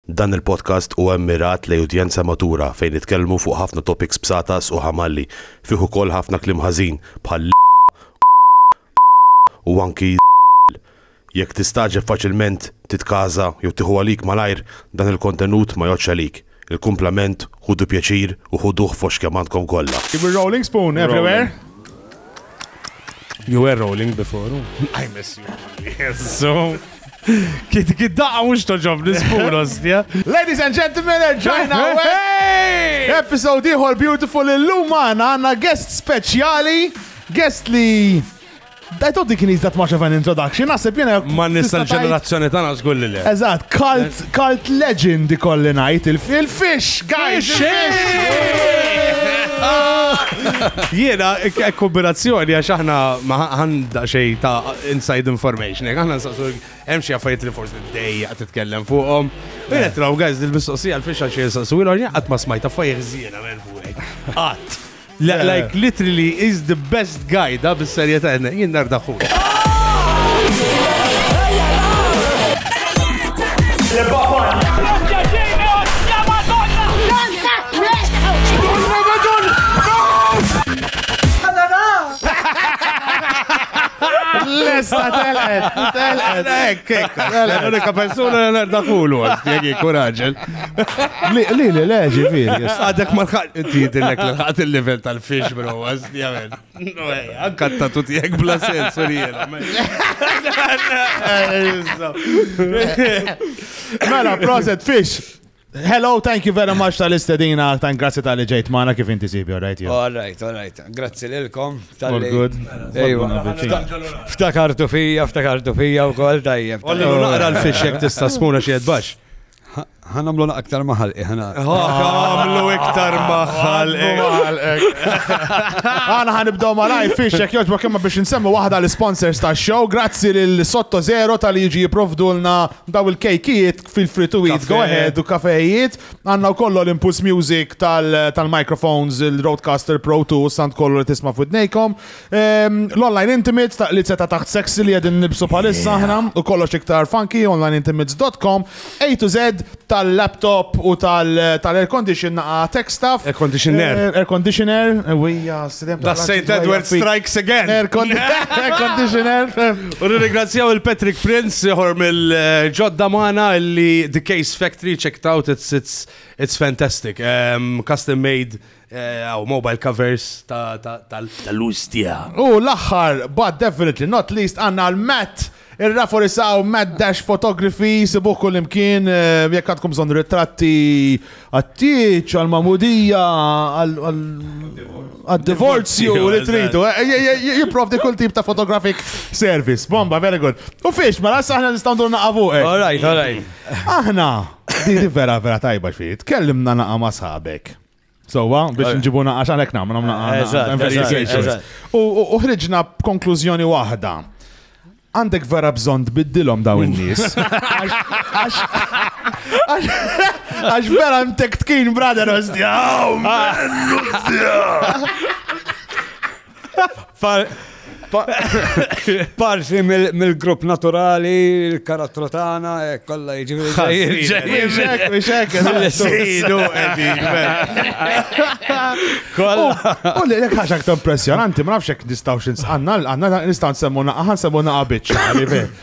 Dan il-podcast huwa mmirat lejn udjenza matura fejn nitkellmu fuq ħafna topics b'satas u ħamalli, fih ukoll ħafna kliem ħażin bħal l-, u anki l-. Jekk tistagħġeb faċilment titkaża jew tieħu għalik malajr, dan il-kontenut ma jgħoddx għalik. Il-kumplament ħudu pjaċir u ħuduh f'għoxx kemm għandkom kollha. Keep it rolling, spoon everywhere. You were rolling before. I miss you. Jezzu. Kit kit daqqa mux toġob nisbur, ostja. Ladies and gentlemen, ġajna għawek. Episode iħor beautiful illum għana għanna guest speċjali, guest li. I thought he can use that much of an introduction, nasib jena. Ma nista l-ġenerazzjoni tana zgulli li. Eżat, cult, Cult legend ikolli ngħid il-fish, guys! Jiena, kombinazzjoni għax aħna għanda xej ta' inside information, jek aħna nsaqsu hemm xi affarijiet li forsi dejja titkellem fuqhom. Jiena traw guys dil-mistoqsija l-fixa xi nsaqsu ilhom qatt ma smajta fajr żiena minn fuqek. Qatt. Like literally is the best guy da bis-serjetà jien nar daħu. Lesta telqet, telqet, ekk, ekk. L-unika persuna li nerda kulu, għal kuraġen. Li, li, li, le, ġifiri. Għadek ma lħaq, inti jidillek li lħaqt il-level tal-fish, bro, għazdi għamen. Għankat ta' tuti jek bla sens, u jena. Mela, proset fish. Hello, thank you very much tal-istedina, tan grazzi tal-li ġejt maħna kif inti sibi, all right? All right, all right. Grazzi l-kom. All good. Ftakartu fija, ftakartu fija u kol tajjeb. Olli naqra l-fish jek tista' spuna xied bax. Ħa nagħmlu aktar maħal iħna. Eh, ħa nagħmlu iktar maħal eh. Għana ħan ibdaw ma lajf fiex jek joġba kemma biex nsemmu waħda l-sponsors ta' show. Grazzi lil Sotto Zero tal jiġi jiprovdulna daw il-kejkijiet fil-free to eat, go ahead u kafejiet. Għanna u kollu l-Impulse Music tal-microphones, il-Roadcaster Pro 2, sant kollu li tisma' fudnejkom. L-online intimates ta' li seta taħt sexy li għedin nibsu palissa ħna u kollox iktar funky onlineintimates.com A to Z tal-laptop u tal-air condition naqa tech stuff. Air conditioner. Eh, air conditioner. Eh, wija, s-sidem. Da St. Edward strikes again. Air conditioner. U ringrazzjaw il-Patrick Prince jħor mill-ġodda maħna li The Case Factory checked out, it's, it's, it's fantastic. Um, custom made Għaw, mobile covers tal-luz tija. U l-axħar, but definitely not least, għanna l-Matt, il-rafori saw Matt Dash Photography, sibuħ kull imkien, eh, jek għadkom zon ritratti għattiċ, għal-mamudija, għal-divorzju, li tridu, eh, eh, jiprovdi kull tip ta' photographic service. Bomba, very good. U fiex, ma mela, l-assa ħna nistaw dur naqavu. All right, all right. Aħna, di vera vera tajba xfiet, kellimna naqa ma sħabek. Sowa, biex nġibu naqax għalek nam, nam naqax. U ħriġna b'konklużjoni waħda. Għandek vera bżon tbiddilhom daw in-nies. Għax vera mtek tkin brother ostja. Parsi mill-grupp naturali, il-karattru tagħna, eh, kollha jiġifieri U li jekk ħax aktar impressjonanti, ma nafx jekk nistgħu xi għandna għandna nistgħu nsemmu naqa' nsemmu naqa' biċċa,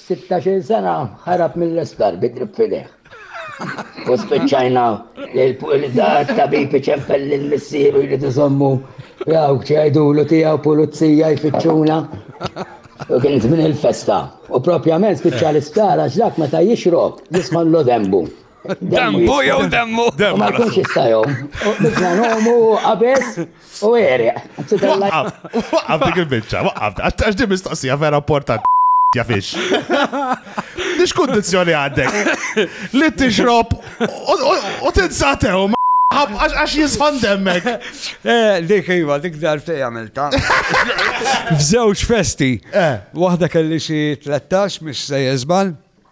Sittax-il sena ħarab mill-isptar bi grip f'idejh. U spiċċajna li t-tabib iċempel lil missieru jrid iżommu jawk ċajdulu tiegħu pulizija jfittxuna. U kien żmien il-festa. U propjament spiċċa l-isptar għax dak meta jixrob jisma' l-dembu. Dembu jew demmu? Ma jkunx jista' jom. U biżna nomu qabeż U għeri. Waqqaf, waqqaf dik il-bicċa, waqqaf, għax di mistoqsija vera importanti. Jafix. Nix kondizjoni għaddek. Li t-ixrob u t-insatew għax jisħan demmek. Eh, dik iva, dik darti għamilta. F'żewġ festi. Eh. Waħda kelli xi 13 mis se jizbal.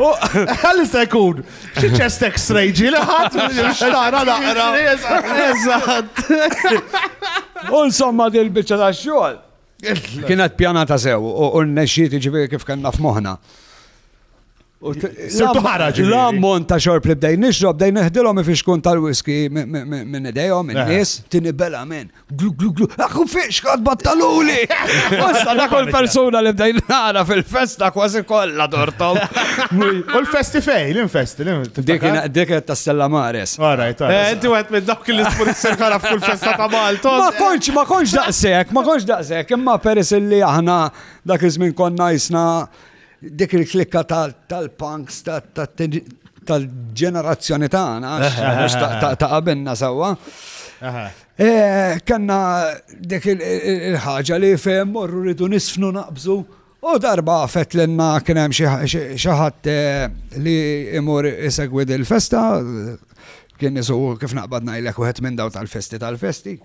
Għalli se jkun, xi ċest x-ray ġi li ħadd xtara naqra. Eżatt. U insomma dil-biċċa ta' xogħol. Kienet pjanata sew u n-nexxiet ġifieri kif kellna f'moħħna. Sirtu ħaraġ. L-ammont ta' xorb li bdej nixrob, bdej neħdilhom ifixkun tal-whisky minn idejhom, minn nies, tini bela minn. Glu, glu, glu, għakku fiex għad battaluli! Wassa da kol persona li bdajn nara fil-festa kważi kolla dortom. U l-festi fej, l-infesti, l-infesti. Dik ta' Stella Mares. Għaraj, ta' eh, Inti għet minn dawk li s-pur s-serkara f'kull festa ta' Malta. Ma konċ, ma konċ daqsek, ma konċ daqsek, imma peris li aħna dak iż-żmien konna jisna dik il-klikka tal-punks, tal-ġenerazzjoni tagħna, ta' qabilna sewwa. Eh, kanna dik il-ħaġa li fehem morru rridu nisfnu naqbżu u darba għafet l-enna kienem xaħat eh, li imur isegwi il-festa kien isu kif naqbad najlek uħet minn daw tal-festi tal-festi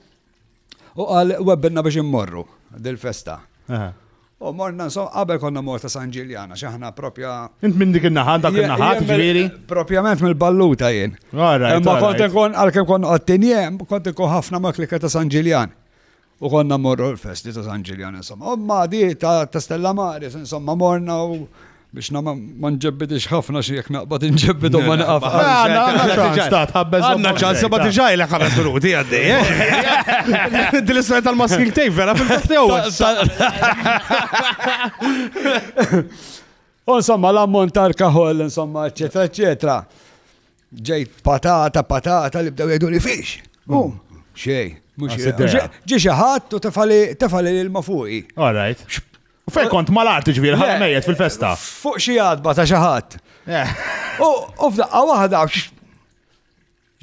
u għal webbinna biex immorru dil-festa. U morna insomma, qabel konna morta San Ġiljan, għax aħna propja. Int minn dik in-naħa, dak in-naħa, ġifieri? Propjament mill-balluta jien. Imma kont ikun għalkemm kont qottin jem, kont ikun ħafna ma' klika ta' San Ġiljan. U konna morru l-festi ta' San Ġiljan, insomma. U ma' di ta' Stella Maris, insomma, morna u Biex na ma nġebbidix ħafna xi jekk naqbad inġebbidu ma naqaf. Għanna ċans ma tiġaj l ħames minuti għaddi. Eh? Din is tal-masking tape vera fil-fastew. Insomma, l-ammont tal-kaħol, insomma, eccetera, eccetera. Ġejt patata, patata li bdew jgħidu li fiex. U, mm. xej. Ġi xaħat u tefali l-ma fuqi. All right. Fej kont mal-arti ġviri, ħal mejjet fil-festa. Fuq xi għadba ta' xi ħadd. Eh. U f'daqqa waħda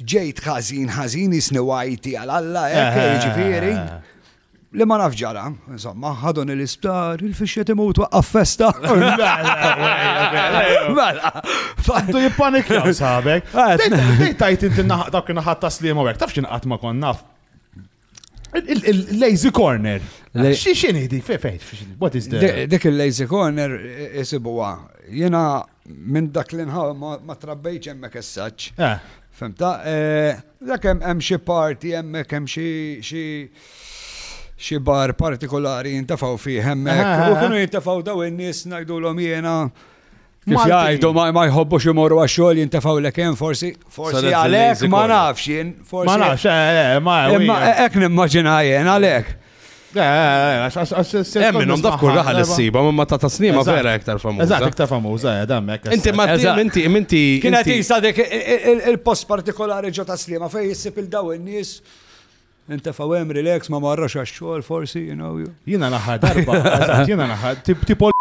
ġejt ħażin ħażin isni wajti għal Alla eh, hekk eh. ġifieri. Li ma naf ġara, insomma, ħadon il-isptar, il-fixxet imut waqqaf festa. Mela, fattu jippanik jaw sabek. Dejt tajt inti dak naħat taslim u għek, taf xinqat ma kon naf. Il-lazy corner. Xi xini di, fejn, what is the... Dik il-lazy corner isibuwa. Jena minn dak li nħaw ma trabbejċ hemmhekk essaċ. Eh. Femta, eh, dak hemm xi parti hemmhekk hemm xi xi bar partikolari jintafaw fih hemmhekk. U kienu jintafaw daw in-nies ngħidulhom jiena Kif jgħidu ma jħobbux imorru għax-xogħol jintefgħu l hemm forsi forsi għalhekk ma nafx jien forsi. Ma nafx, eh, eh, ma Imma hekk nimmaġina jien għalhekk. Eh, hemm minnhom daf kull raħal issiba, ma ta' tasnima vera iktar famuża. Eżatt, iktar famuża, dammek. Inti ma inti inti. Kienet jisa dik il-post partikolari ġo taslima fejn jissib il-daw in-nies Intefgħu hemm relax ma marrax għax-xogħol forsi, you know. Jiena l-aħħar darba, jiena l-aħħar tipo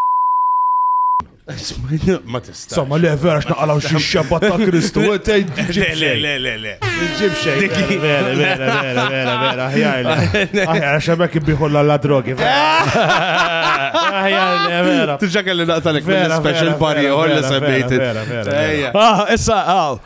Ma tista. Somma le vera x'naqalaw xi xebba ta' Kristu. Le le le le le. Ġib xejn. Vera vera vera vera vera aħjar. Aħjar xemek ibiħolla la drogi. Aħjar le vera. Tiġa kelli naqtalek mill-special party or li semmejt. Ejja. Ah, issa, ah.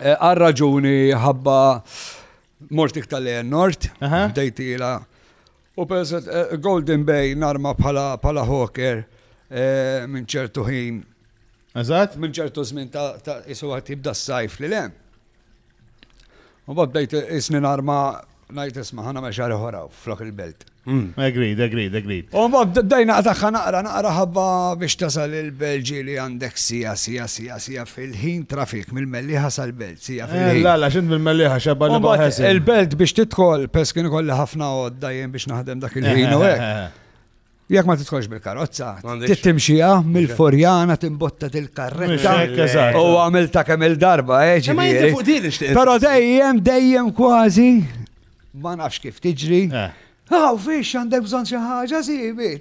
Eh, għal raġuni ħabba mort iktar li nort, dejtila. U perset eh, Golden Bay narma bħala hawker eh, minn ċertu ħin. Eżat? Minn ċertu żmien ta' isu għat jibda s-sajf li lem. U bad bdejt isni narma Ngħid isma' ħa nagħmel xi ħaġa oħra flok il-belt. Agreed, agreed, agreed. U mbagħad dejna tagħha naqra naqra ħabba biex tasal il-Belġi li għandek sija sija sija sija fil-ħin trafik mill-Mellieħa sal-Belt sija eh, fil-ħin. La la x'int mill-Mellieħa xabba li baħes. Il-Belt biex tidħol pers kien ikolli ħafna għodda jien biex naħdem dak il-ħin u hekk. Jekk ma tidħolx bil-karozza, tittimxija mill-forjana timbotta til-karretta. U għamil ta' kemm il-darba, eh, ġifieri. Però dejjem, dejjem kważi, ma nafx kif tiġri. Eh. Aw, fiex għandek bżonn xi ħaġa sibi.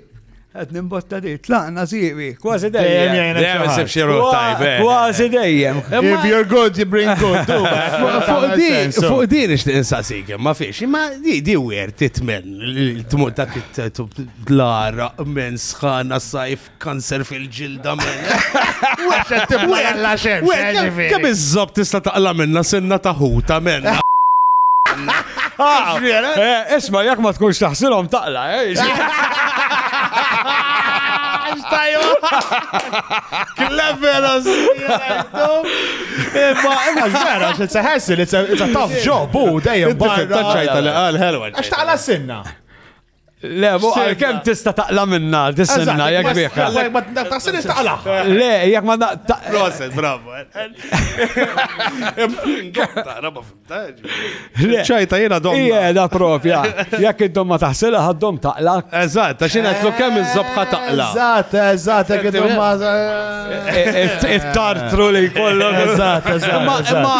Qed nimbotta di, tlaqna sibi, kważi dejjem. Dejjem isib xi tajbe. Eh. Kważi dejjem. If you're good, you bring good. Fuq din, fuq din ixtieq insaqsik, ma fiex, ma di di wer titmen. Il-tmur dak it-tetu l-ara, men sħana sajf, kanser fil-ġilda men. Weċa tibla għalla xem, Kem iż-zob tista taqla minna senna taħuta men. Ah, eh, isma, jak ma tkunx taħsilom taqla, eh? Clever as Imma, imma, vera, it's a hassle, it's a tough job, u dejjem barra. Taċċajta li għal, helwa. Għax taqla s-sinna. Le, mu għal kem tista taqla minna, tissinna, jek biħka. Le, ma taqsin taqla. Le, jek ma taqla. Proset, bravo. ċajta jena dom. Ije, da propja. Jek id-dom ma taħsila, għad-dom taqla. Eżat, ta' xina tlu kem iż-zobħa taqla. Eżat, eżat, jek id-dom ma. It-tartru li kollok. Eżat, eżat. Ma,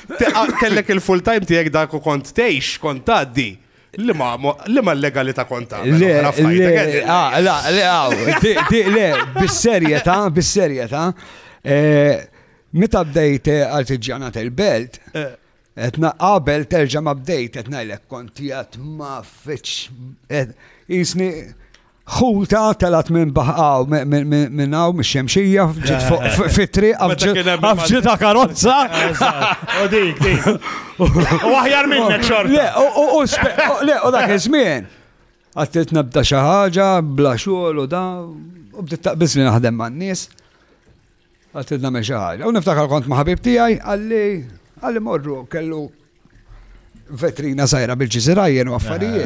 Kellek il-full time tiegħek dak u kont tgħix, kont tgħaddi. Li ma l-legalità konta. Le, ah, le, le, ah, le, bis-serjetà, bis-serjetà. Eh, meta bdejt eh, artiġjanat il-belt, eh. etna qabel terġa' ma bdejt qed ngħidlek kont jgħat ma fitx jisni ħuta telat minn baħqaw minn hawn mix-xemxija ġiet fuq fitri għafġita karozza. U dik, dik. U aħjar minnek xorta. Le, u dak iż-żmien. Għattilt nabda xi ħaġa, bla xogħol u da, u bdiet taqbiż li naħdem man-nies. Għattilt nagħmel xi ħaġa. U niftakar kont ma' ħabib tiegħi għalli għalli morru kellu vetrina sajra bil-ġiżirajjen u affarijiet.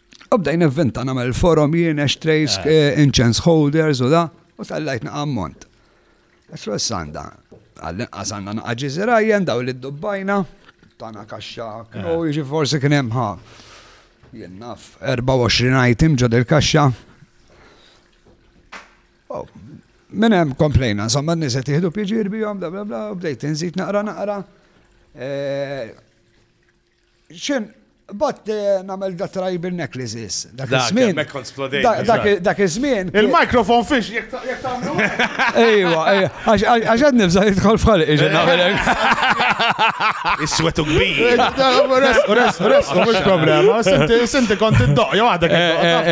U bdejn evvinta namel forum jien, ashtrays, eh. eh, incense holders u da, u tal-lajt naqammont. Għasru s-sanda, għallin għasanna naqaġi zirajjen, daw li d-dubbajna, tana kaxxa, eh. u jġi forsi kienem ħa. Jien naf, 24 item ġod il-kaxxa. Oh, Minn hemm komplejna, insomma n-nies qed jieħdu pjaġir bihom, bla bla bla, bdejt inżid naqra naqra. Eh, Xim, Bat eh, namel da tribal necklaces. Dak iż-żmien. Dak iż-żmien. Il-mikrofon fiex jek tagħmlu. Ejwa, ejwa. Għax qed nibża' jidħol f'ħalq iġi nagħmelek. Is-swet u kbir. Res, res, mhux problema. Sinti kont iddoq jew għadek. Eh,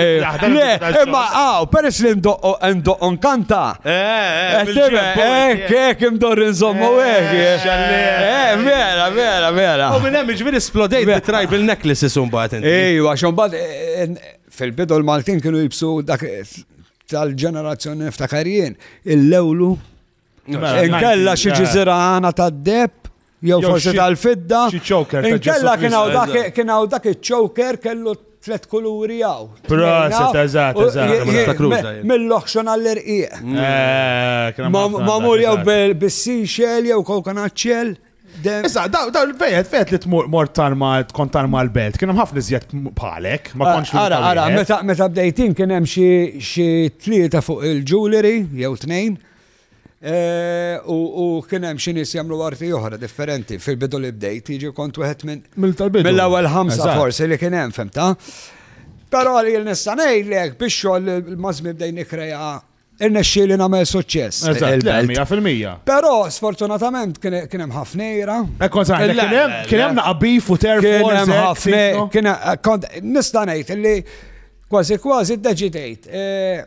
eh, le, imma għaw, peress li ndoqqhom kanta. Ek, ek, imdorri nżommu, ek. Eh, vera, vera, vera. U minn hemm ġviri splodejt bi tribal necklaces un bat. Ejwa, xon bat, fil-bidu l-Maltin kienu jibsu dak tal-ġenerazzjoni niftakar jien, il-lewlu. Inkella xi ġiżira għana tad-deb Jew forsi tal-fidda. Inkella kien hawn dak kien hawn dak iċ-choker kellu tlet kuluri għaw. Proset, eżat, eżat. Mill-oħxon għall-irqieq. Eh, Mamur jew bis-seashell jew kokonaċċell. Issa, daw fejet, fejet li tmur mort tarma, tkun tarma l-belt, kienem ħafna iżjed bħalek, ma konx Ara, ara, meta bdejtin kienem xie tlieta fuq il-jewelry, jew tnejn, U kien hemm xi nies jagħmlu arti oħra differenti fil-bidu li bdejt, jiġi kont wieħed minn mill-ewwel ħamsa forsi li kien hemm fimta. Però li nista' ngħidlek biex xogħol mażmi bdejn nikkreja irnexxi li nagħmel suċċess. fil-mija. Però sfortunatament kien hemm ħafnejra. Ekkon sa kien hemm kien hemm naqbif u terf. Kien hemm ħafna kien kont nista' ngħid li kważi kważi ddeċidejt.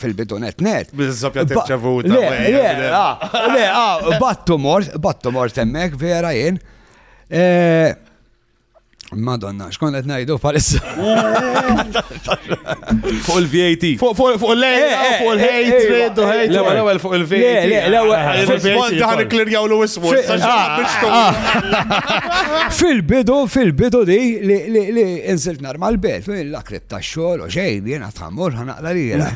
fil-bidu net net. Bil-żoppja tirċevuta. Le, le, ah, battu mort, battu mort emmek, vera jien. Eh, Madonna, xkon qed ngħidu palissa. Fuq il-VAT. Fuq il-lejn, eh, eh, fuq il-hatred, eh, hate. L-ewwel ewwel fuq il-VAT. Fil-bond daħan ikklirjaw l wismu. Fil-bidu, fil-bidu di li insilt nar mal-belt, l-akrib ta' xogħol u xejn, jiena Amor, ħan naqla li jela.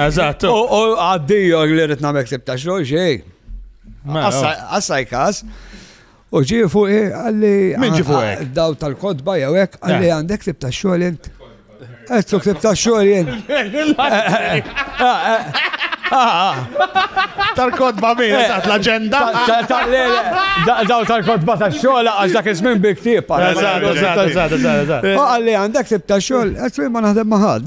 Eżatt. U għaddiju li rrit namek sib ta' xogħol xej. Assaj kas. U ġi fuq għalli. Min ġi fuq? Daw tal-kodba jew hekk għalli għandek sib ta' xogħol int. Qed sib ta' xogħol int. Ah, ah, ah, Tal-kodba min, eh, eżatt, l-agenda. Daw tal-kodba ta' xogħol għax dak iż-żmien bi ktieb. Eżatt, eżatt, eżatt, eżatt. Eh. Għalli għandek tib ta' xogħol, qed ma naħdem ma' ħadd.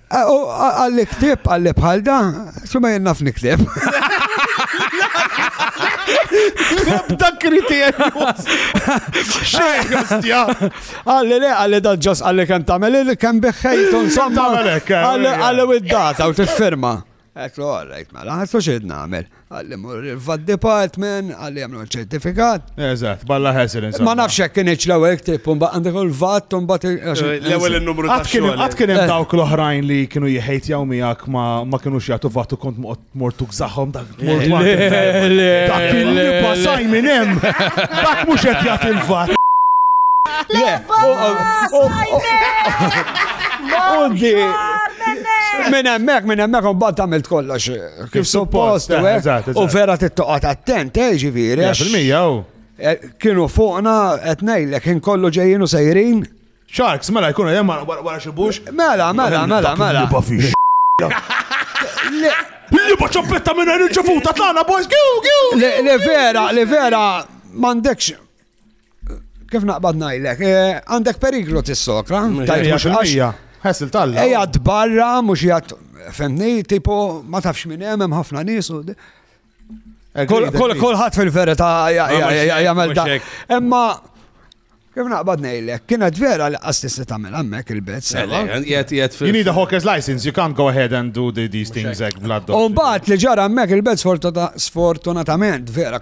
Għalli ktib, għalli bħal da, xumma jenna f'niktib. Nebda kriterju. Għalli le, għalli da ġos għalli kem tamel, kem biħħejtu, insomma. Għalli u id-data u t-firma. Għedtlu all right mela, ħassu x'irrid nagħmel. Qalli mur il-VAT department, qalli jagħmlu ċertifikat. Eżatt, balla ħesel insomma. Ma nafx hekk kienx l-ewwel ktib u mbagħad għandek il-VAT u mbagħad L-ewwel in-numru ta' xogħol. Qatt kien hemm dawk l-oħrajn li kienu jeħejtjaw miegħek ma kinux jagħtu VAT u kont mortu gżaħħom dak mort Dak kien li passaj minn hemm. Dak mhux qed jagħti l-VAT. Le, Minn hemmhekk, minn hemmhekk imbagħad għamilt kollox eh, kif suppost eh, eh, u vera tittoqgħod attent, eh ġifieri. Fil-mija oh. Kienu fuqna qed ngħidlek inkollu ġejjin u sejrin. Sharks, mela jkunu hemm wara xi bux. Mela, mela, mela, mela. Li ba ċoppetta minn il-ġefuta tagħna boys, giu, giu. Le vera, le vera, m'għandekx Kif naqbad najlek, eh, għandek periklu tissokra, Ħessil talla. Eja barra mhux jgħat, femni, tipo, ma tafx minn hemm hemm ħafna nies u. Kolħat fil-verita jgħamil da. Emma, Kif naqbad nejlek, kienet vera li għastisti tamil għammek il-bet. You need a hawker's license, you can't go ahead and do these things like blood. Umbat li ġara għammek il-bet sfortunatament vera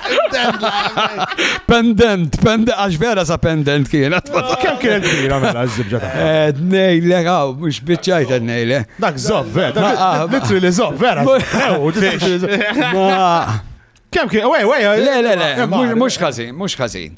Pendent, pendent, għax vera sa pendent kienet. Kem kienet kbira mela ż-zibġa ta' eh, Nejle, għaw, mux bieċajt nejle. Dak zob, vera, ah, litri li zob, vera. Kem kien, wej, wej, le, le, le, mux kazin, mux kazin.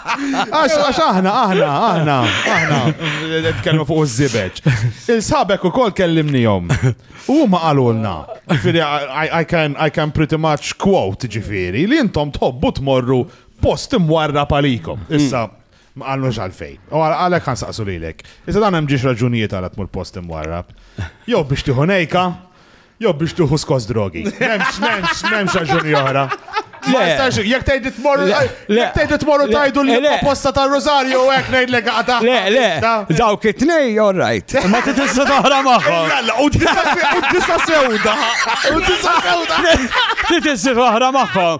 Għax aħna, aħna, aħna, aħna, nitkellmu fuq iż-żibeġ. Il-sabek ukoll kellimnihom. U ma qalulna. Ġifieri I can I can pretty much quote ġifieri li intom tħobbu tmorru post imwarra palikom. Mm. Issa ma qalux għalfejn. U għalhekk ħansaqsu lilek. Issa dan hemm ġiex raġunijiet għal tmur post imwarra. Jew biex tieħu nejka, Jew biex tuħu skos drogi. Memx, memx, memx raġuni oħra. Ma jistax, jek tgħid tmorru, jek tgħid tmorru tajdu li posta ta' Rosario u hekk ngħidlek għata. Le, le, dawk it-tnej, all right. Ma titissa toħra magħhom. Jalla, u tista' sewda. U tista' sewda. Titissa toħra magħhom.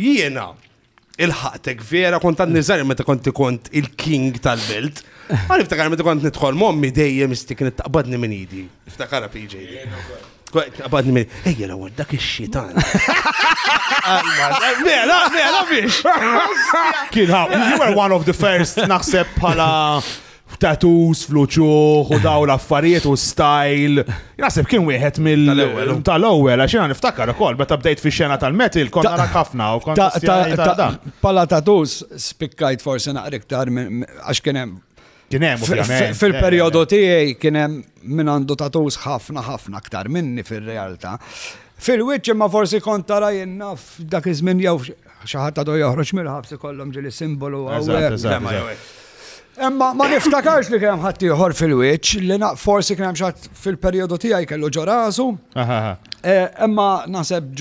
Jiena, il-ħaqtek vera, kont għad nizar meta kont kont il-king tal-belt. Għan iftakar meta kont nidħol mommi dejjem istik nittaqbadni minn idi. Iftakar PJ. Taqbadni minn, ejja la għad dak il-xitan. Mela, mela biex. Kien ħab, you were one of the first naħseb bħala f'tattoos, fl-uċuħ u daw l-affarijiet u style. Naħseb kien wieħed mill-ewwel tal-ewwel għax jiena niftakar ukoll meta bdejt fix-xena tal-metal kont nara ħafna u kont ta' dan. Pala tattoos spikkajt forsi naqra iktar għax kien hemm Kien hemm ovvjament. Fil-perjodu tiegħi kien hemm min għandu tattoos ħafna ħafna aktar minni fir-realtà. Fil-wiċċ imma forsi kont tara jinnaf dak iż-żmien jew Xi ħadd għadu joħroġ mill-ħabs ikollhom ġieli simbolu hawnhekk. Imma ma niftakarx li kien hemm ħadd ieħor fil-wiċċ li forsi kien hemm xatt fil-perjodu tiegħi kellu ġorasu. Eh, imma naħseb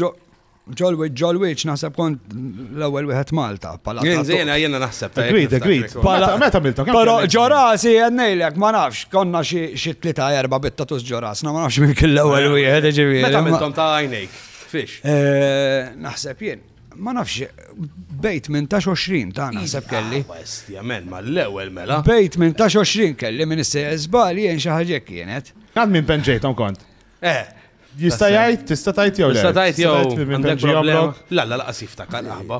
ġolwiċ ġolwiċ naħseb kont l-ewwel wieħed Malta. Jiena jiena naħseb. Agreed, agreed. Meta milta. Però ġorasi jennejlek ma nafx konna xi tlieta erba bittatus ġorasna ma nafx minn kill l-ewwel wieħed ġifieri. Meta miltom ta' għajnejk. Fix. Eh, naħseb jien, ma nafx, bejt minn ta' 20 ta' naħseb kelli. Bastjament, ah, ma l-ewel mela. Bejt minn ta' 20 kelli minn s jizbal jien xaħġek kienet. Għad minn penġejtom kont. Eh. Jista' jgħid, tista' tajt jew le? Tista' tajt jew għandek problema. La la laqas jiftakar aħba.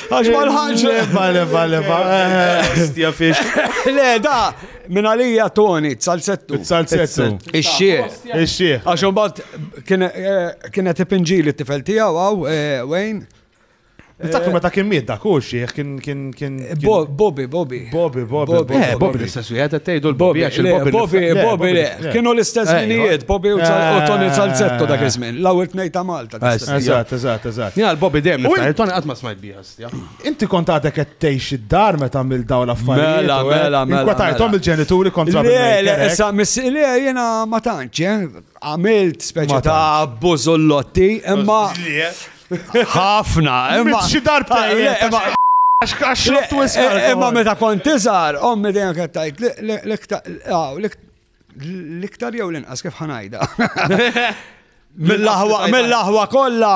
Għax ma l-ħagġ. Leva, leva, leva. Stja fiex. Le, da, minn għalija Tony, t-salsettu. T-salsettu. Ix-xie. Ix-xie. Għax un bat kienet ipinġi li t-tifel tijaw, għaw, Wayne. Niftakru meta kien miet dak u xieħ kien kien kien. Bobby, Bobby. Bobby, Bobby. Eh, Bobby l-istess wieħed qed tgħidu l-Bobby għax il-Bobby. Bobby, Bobby le. Kienu l-istess minijiet, Bobby u Tony Salzetto dak iż-żmien, l-ewwel tnejn ta' Malta. Eżatt, eżatt, eżatt. Jina l-Bobby dem niftaħ, Tony qatt ma smajt biha stja. Inti kont għadek qed tgħix id-dar meta għamil dawn l-affarijiet. Mela, eh? mela, mela. Inkwatajthom mela. il-ġenituri kontra Le, le, issa miss le jiena ma tantx, eh? għamilt speċi ta' bużollotti, imma ħafna, imma xi darba Imma meta kont tiżar, ommi dejjem qed tgħid l-iktar L-iktar jew l-inqas kif ħanajda. Mill-aħwa kollha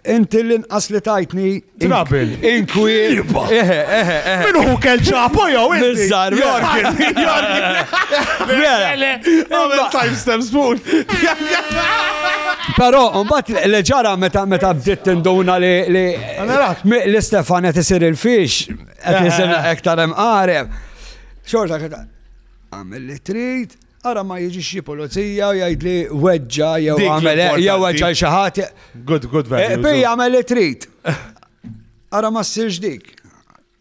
inti l-inqas li tajtni. Trabil. Inkwi. Eħe, eħe, eħe. Minu hu kell ċapo jew inti. Bizzar, jorkin. Jorkin. Għamil timestamp spoon. Pero, mbatt leġara meta meta bdiet tinduna li li li Stefan qed isir il-fix, qed isir ektar hemm qareb. Xorta Agħmel li trid, ara ma jiġix xi pulizija u jgħidli weġġa jew Dik għamel hekk, jew l-importanti. weġġa xi ħadd. Good, good Eh, value. Bi jagħmel li trid. Ara ma ssirx dik.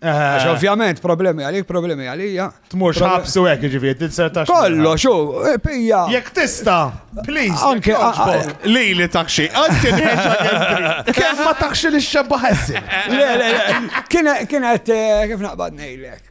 Għax Eh, ovvjament problemi għalik, problemi għalija. Tmux Problem- ħabs u hekk jiġifieri, tinsel tax. Kollox, u, eh, pija. Jekk tista, please, Anke- jekk jogħġbok, li li taxxi, anke nħeġġa kemm trid. Kemm ma taxxi li xebba ħessi. Le, le, le. Kien- Kienet, eh, kif naqbad nejlek.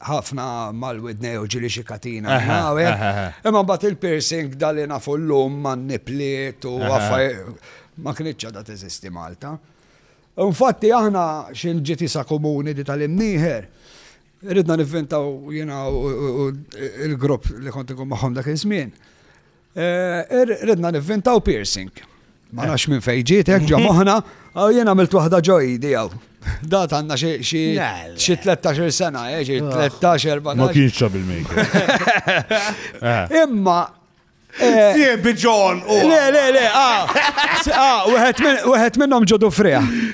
ħafna mal-widnej u ġili xi katina. Imma mbagħad il-piercing dali nafu l-lum man nipliet u għaffaj ma kienitx għadha teżisti Malta. Infatti aħna xil ġiti sa komuni di tal-imnieħer, ridna nivvintaw jina u il-grupp li konti kum maħom dak iż-żmien. Ridna nivvintaw piercing. Ma nafx minn fejn ġiet hekk ġo moħħna, għaw jien għamilt waħda ġo idi għaw. Dat għandna xi 13 sena, eh, xi 13 erba. Ma kienx trouble maker. Imma Eh, Siebi John! Le, le, le, ah, ah, wieħed minnhom ġodu friħ.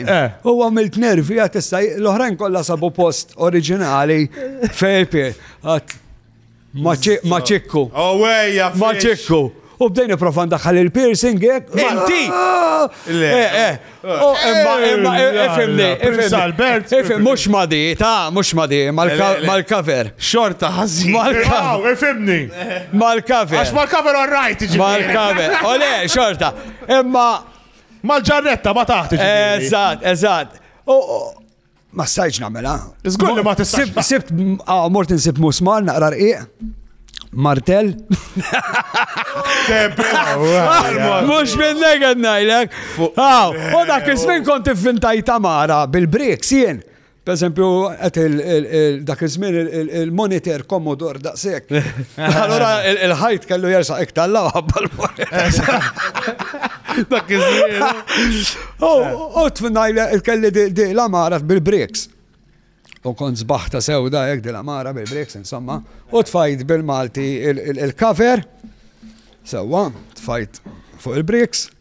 Eh. U għamilt nervi għat issa l-oħrajn kollha sabu post oriġinali fejpi għat maċikku. Owejja, oh, maċikku. U bdejni profan daħħal il-piercing jek. Eh? Inti! Ah! Le. Eh, eh. Oh, imma, imma, ifimni, ifimni. Ifim, mux madi, ta' mux madi, mal-cover. Xorta ħazzi. Mal-cover. Ifimni. Mal-cover. Għax mal-cover all right, Mal-cover. Ole, xorta. Imma, Mal-ġarretta ma taħt iġifieri. Eżatt, eżatt. Ma stajċ namela. Zgur li ma tistax. Sibt, ah, mort insib musmar naqra rqiq. Martell. Mux minn negħed najlek. U dak iż-żmien kont ivvintajt tamara bil-bricks jien. Pereżempju, qed dak iż-żmien il-monitor Commodore daqshekk. Allura il-ħajt kellu jersaq iktar law ħabba l-monitor. Dak iż-żmien. U tfnajla kelli di l-amara bil-bricks. U kont zbaħta sewda hekk di l-amara bil-bricks insomma. U tfajt bil-Malti il-cover. Sewwa, tfajt fuq il-bricks.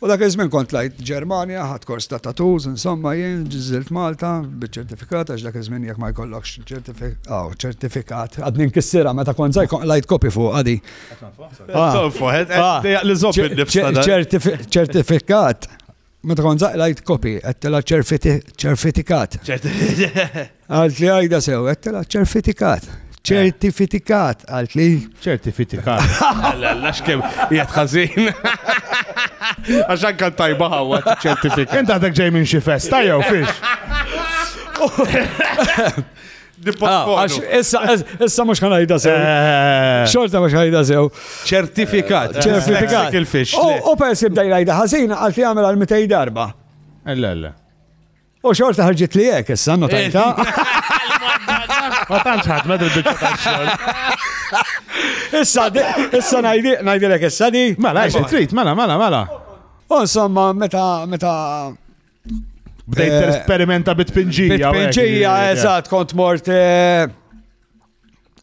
U dak iż-żmien kont tlajt Ġermanja, ħadt kors ta' tattoos, insomma jien żilt Malta biċ-ċertifikat għax dak iż-żmien jekk ma jkollokx aw ċertifikat, għadni nkissirha meta kont żgħir kont qlajt kopji fuqha di. Ċertifikat, meta kont żgħir qlajt kopji, qedtilha ċerfitikat. Għalt li għajda sew, għettela ċerfitikat. ċertifitikat, għalt li. ċertifitikat. Alla, alla, xkem, jgħat ħazin. Għaxan kan tajba għawa, ċertifikat. Inta għadek ġej minn xi festa jew fiex. Ah, għax issa, issa mux ħanajda sew. Eh. Xorta mux ħanajda sew. ċertifikat. Eh, ċertifikat. Il-fix. U persi bdaj rajda ħazina għal fi għamil għal 200 darba. Ella, ella. U xorta ħarġit li jek, issa notajta. Ma tantx ħadd ma dil-biċċa tax-xogħol. Issa issa ngħidilek issa di. Mela, xi trid, mela, mela, mela. U insomma, meta meta Bdejt eh, esperimenta bit-pinġija. Bit-pinġija, eżatt, kont mort eh,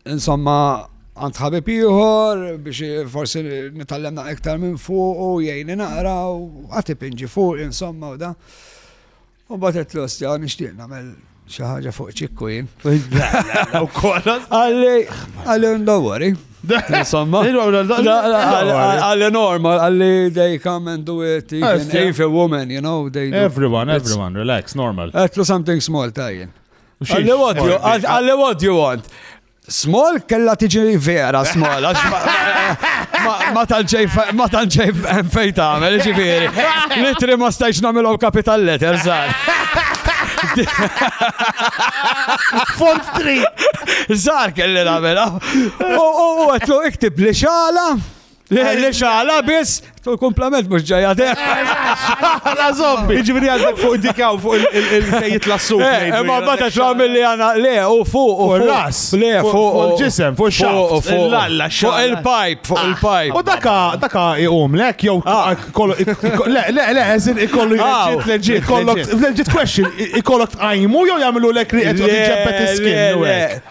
Insomma, għand ħabib ieħor biex forsi nitallemna iktar minn fuq u jgħini naqra u għati pinġi fuq insomma u da. U batet l-ostja nixtieq nagħmel xi ħaġa fuq ċikku jien. Għalli għalli ndawwari. Insomma. Għalli normal, għalli they come and do it even if a woman, you know, they do. Everyone, everyone, relax, normal. Għetlu something small tajjen. Għalli wadju, għalli wadju għant. Small kella tiġi vera small, għax ma tanċej ma tanċej fej tagħmel, ġifieri. Litri ma stajx nagħmilhom capital letter żgħar. Font 3. Żgħar kelli nagħmilha. U għetlu iktib li xala. Li xala biss, tul komplement mux ġajja de. La zombi. Iġviri għandek fuq dikaw fuq il-sejjit la suq. Eh, eh, ma bata xlam li għana, le, u fuq, u fuq. ras Le, fuq. Il-ġisem, fuq xaft. Fuq l-alla, fuq il-pajp, fuq ah. il-pajp. U daka, daka iqum, lek, jow, ah. kollu, le, le, le, eżin ikollu ah. jġit, leġit, kollok, leġit question, ikollok tqajmu, jow jamlu lek riqet, u tġebbet iskin.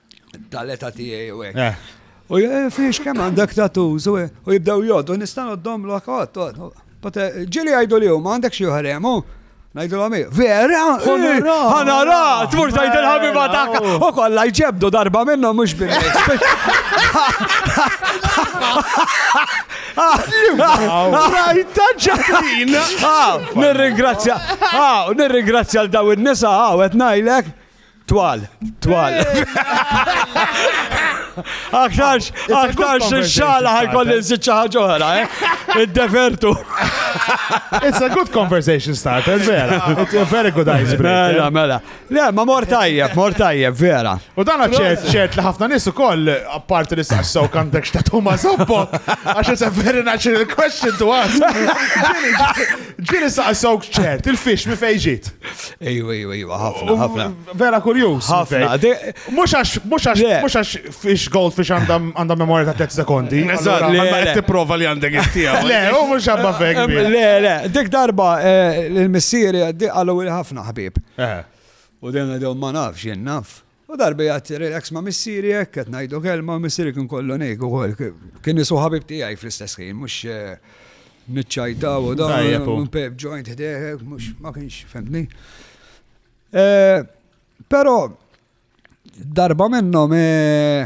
Tal-eta tiegħi u hekk. Eh. U eh, fiex kemm għandek tattoos u jibdew jgħoddu nista' noddhom l Pate, eh, ġili għajdu li huma għandek xi ħaremu. Najdu l vera? Għanara, tmur tajt il-ħabiba taka. U kolla jġebdu darba minna mux bil Rajta ġaħin. Nirringrazzja, nirringrazzja l-daw il-nisa, għawet najlek. Twal, twal. Aktarx, aktarx xala ħajkolli nżid xi ħaġa oħra, eh? Id-defertu. It's a good conversation starter, vera. It's a very good ice break. Mela, eh? mela. Le, ma mor tajjeb, mor tajjeb, vera. U dan ċert, ċert li ħafna nies ukoll apparti li saqsaw kantek xta' tuma zoppo, għax it's a very natural question to ask. Ġili saqsaw ċert, il-fix mi fejġit. Ejwa, ejwa, ejwa, ħafna, ħafna. Vera kurjus. Ħafna. Mux għax, mux għax, mux għax fish gold fish għandha memorja ta' 3 sekondi. Eżatt, li għandha qed tipprova li għandek it-tija. Le, u mux għabba fek. Le, le, dik darba eh, l-missieri għaddi għallu ħafna ħbib. Eh. U dejjem għaddew ma nafx, jien naf. U darba jgħid tirrilax ma' missieri hekk qed ngħidu kelma u missieri kien kollu ngħid ukoll kien isu ħabib tiegħi fl-istess ħin mhux niċċajtaw u dan Tajjeb hu. pep joint ħdejh hekk mhux ma kienx fehmtni. Eh, Però darba minnhom eh,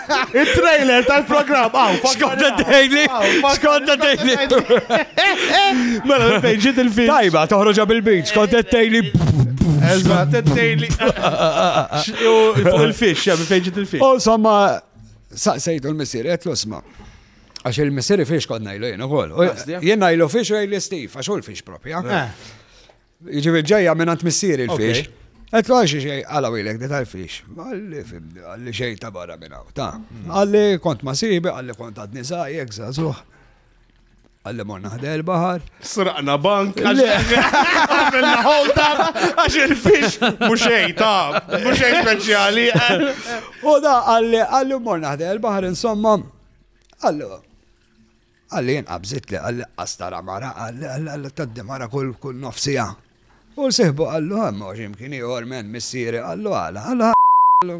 Il-trailer tal-programm, għaw, Skonta dejli, skonta dejli. Mela, fejn ġiet il-film. Tajba, toħroġa bil-bit, skonta dejli. Eżatt, dejli. Fuq il-fix, jgħamil fejn ġiet il-fix. U somma, saqsejtu l-missir, għet l-osma. Għax il-missir fix kod najlu jenu għol. Jien najlu fix u għajli Steve, għax u l-fix propja. Eh. Jiġifieri ġejja mingħand missieri l-fiex. Għedlu għal xi xej għala wilek di tal-fiex. Għalli xej ta' barra minn hawn. Ta' għalli kont ma sibi, għalli kont għadni żgħajjek żagħżugħ. Għalli morna ħdej il-baħar. Sraqna bank. Għamilna hold up għax il-fix muxej ta' muxej speċjali. U da għalli għalli morna ħdej il-baħar insomma. Għalli Qalli inqab żidtli qalli qas tara mara qalli qalli tgħaddi mara kull kull nofs siegħa. U sieħbu qallu hemm hawn xi mkien ieħor m'hemm missieri qallu għala qallu qallu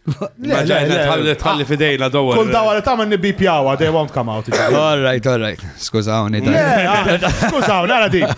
Ma ġajna tħalli tħalli fidejna dowar. Kull dawar li tagħmel nibbipjawha they won't come out. All right, all right. Skużawni. Skużawni, għara di.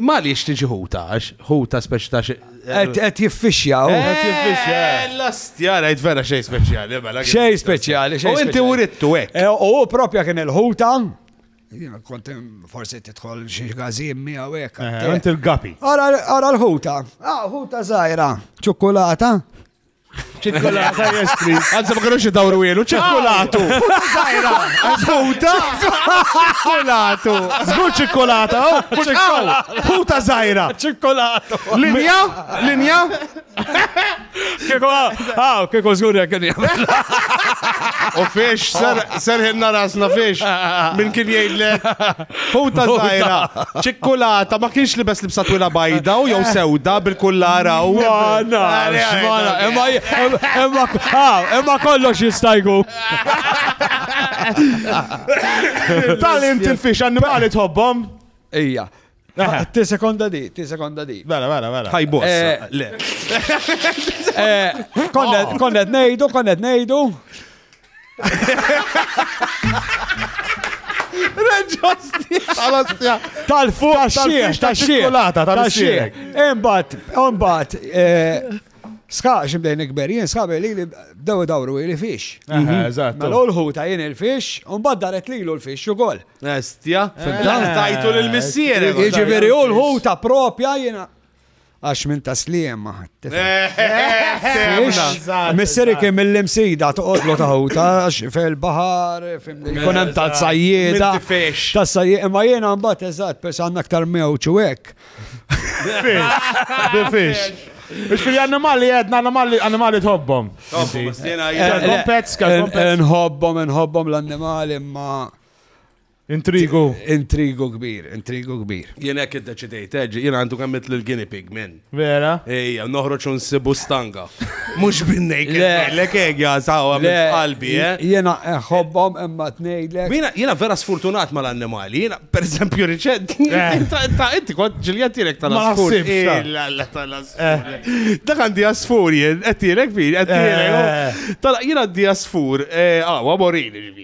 Imma għaliex tiġi ħuta? Għax ħuta speċi ta' xi. Qed jiffixjaw. Qed jiffixja. Eh, L-astja, rajt vera xejn speċjali, mela. Xejn speċjali, xejn. U inti speċjali. urittu hekk. Eh, U hu propja kien il-ħuta. Jiena kont hemm forsi tidħol xi gazim miegħu hekk. Eh, Inti l-gapi. Ara ara l-ħuta. Ah, ħuta żgħira. Ċokolata. Ċikkulata jestri. Għanza ma kienux id-dawru jenu, ċikkulatu. Zajra, ħuta. Ċikkulatu. Zgur ċikkulata, oh, ċikkulata. Ħuta zajra. Ċikkulatu. Linja, linja. Kiko, għaw, kiko zgur jek kien U fiex, serħinna rasna fiex. Min kien jgħidlek. Huta zaħira, ċikkulata, ma kienx li bes libsa twila bajda u jew sewda bil-kullara u. Għana, għana, emma, emma, emma kollox jistajgu. Tal inti l-fix annimali tħobbom? Ija. Ti sekonda di, ti sekonda di. Bella, bella, bella. Ħaj boss. Konnet nejdu, konnet nejdu. Reġosti! Tal-ostja! Tal-fuq! Tal-xiex! Tal-xiex! Tal-xiex! Imbat, imbat, eh, Ska, xibdejn ikber, jien ska li li daw dawru li fix. Mhm. Eżatt. Mela l-ħu ta' jien il-fix, un baddaret li l-fix u gol. Estja, eh, tajtu l-missier. Iġiveri u l-ħu ta' propja jina. Għax minn ta' sliema. Misseri kien mill-imsida toqgħodlu taħuta għax fil-baħar, jkun hemm ta' sajjieda. Ta' sajjieda, imma jiena mbagħad eżatt, pers għandna aktar mewġ u hekk. Bifix. Biex fil animali għedna animali animali tħobbom. Nħobbom, nħobbom l-animali, imma Intrigu. Intrigu kbir, intrigu kbir. Jien hekk iddeċidejt, eh, jien għandu kemm mitlu l-guinea pig minn. Vera? Ejja, noħroġ u nsibu stanga. Mhux binnejk lek hekk jasaw għamil qalbi, eh? Jiena eh, ħobbhom imma tnejlek. Jiena jiena vera sfortunat mal-annimali, jiena pereżempju riċent. Eh. Ta' inti kont ġilja tiegħek tal-asfur. Dak għandi asfur jien, qed tiegħek fil, qed tiegħek. Jiena għandi asfur, ah, morini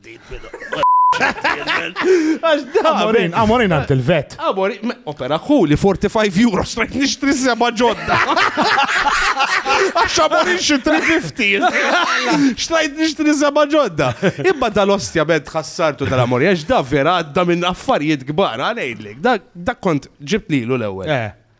Għax da, Amorin, Amorin għant il-vet. Amori, me- opera kuli, 45 euro, strajt nishtri seba ġodda. Għax amorin xi 350. Strajt nishtri seba ġodda. Imma dal-ostja bed ħassartu dal-amori, għax da vera għadda minn affarijiet kbar, għanajdlek. Da, da kont ġibt lilu l-ewel. Eh.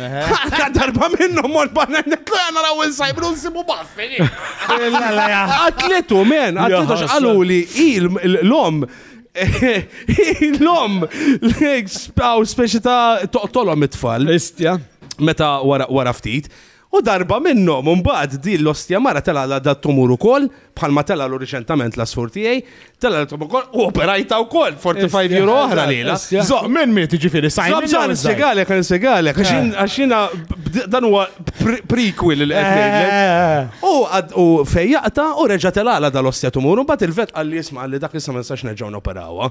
Għadda darba minnu mor banna netlu għana raw insajbru nsibu baffi. Għatlitu, men, għatlitu xqalu li l-lom l-lom għaw speċi ta' toqtolom it-tfal. Istja. Meta wara ftit. U darba minnom, un bad di l-ostja mara tela da t-tumur u koll. bħalma tela l riċentament l-asfur tiegħi, tela l ukoll u operajta wkoll 45 euro oħra lila. Zoq minn miet ġifieri sajn. Zoq ġan segalek, għan segalek, għax jiena dan huwa prequel li qed eh, eh, eh. U fejjaqta u reġa' telala dal-ostja tumur, u bat il-vet għalli jisma' għalli dak issa ma nistax nerġgħu noperawha.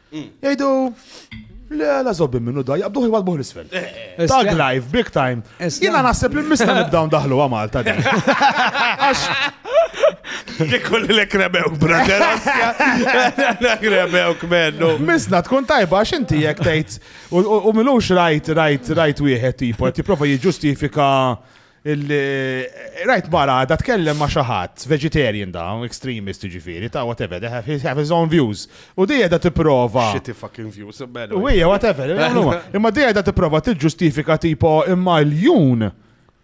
Jgħidu, le, la zobbi minnu da, jabduħi jwadbuħ l-isfel. Eh, eh. Tag live, big time. Jina naħseb li mista nibdaw daħlu għamalta din. Kikul li krebew, brother. Krebew kmennu. Misna tkun tajba għax inti jek tgħid u milux rajt rajt rajt wieħed tipo, tipprova jiġġustifika Rajt mara għadha tkellem ma' xi ħadd, vegetarian da, extremist jiġifieri, ta' whatever, they have his own views. U di qiegħda tipprova. Shitty fucking views. U hija whatever. Imma di qiegħda tipprova tiġġustifika tipo imma l-jun,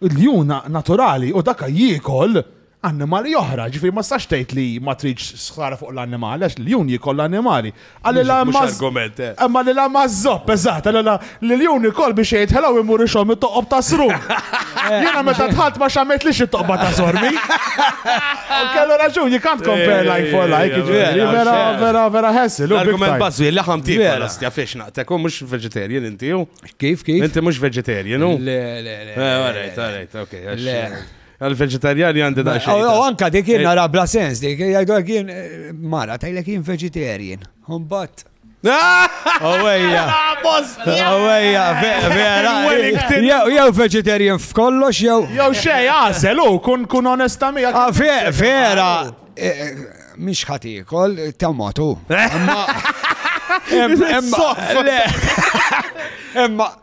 il-jun naturali u daka jiekol annimali oħra, ġifiri ma stax tgħid li ma tridx sħara fuq l-annimali, għax l-jun jikoll l-annimali. Għalli la ma. argument, eh. Imma li la ma zopp, eżatt, għalli la li l-jun jikoll biex jgħid ħelaw imur ixom it-toqob ta' sru. Jena meta tħalt ma xammet li xi toqba ta' sormi. U kellu raġun, you can't compare like for like, ġifiri, vera, vera, vera ħessil. L-argument bazzu, l-laħam tiegħek, Vera. għastja fiex naqtek, u mux vegetarian inti, u. Kif, kif? Inti mux vegetarian, u. Le, le, le. Eh, all right, all right, okay, għax- Le. Għal-vegetariani għandi da' xejn. U anka dik jien eh. nara bla sens, dik jgħidu għak jien eh, mara, tajlek jien vegetarian. Umbat. Owejja. Owejja, vera. Jew vegetarian f'kollox, jew. Jew xej, għazel, u kun kun onesta mi. Ah, vera. Eh, Mish ħatikol, tammatu. Emma.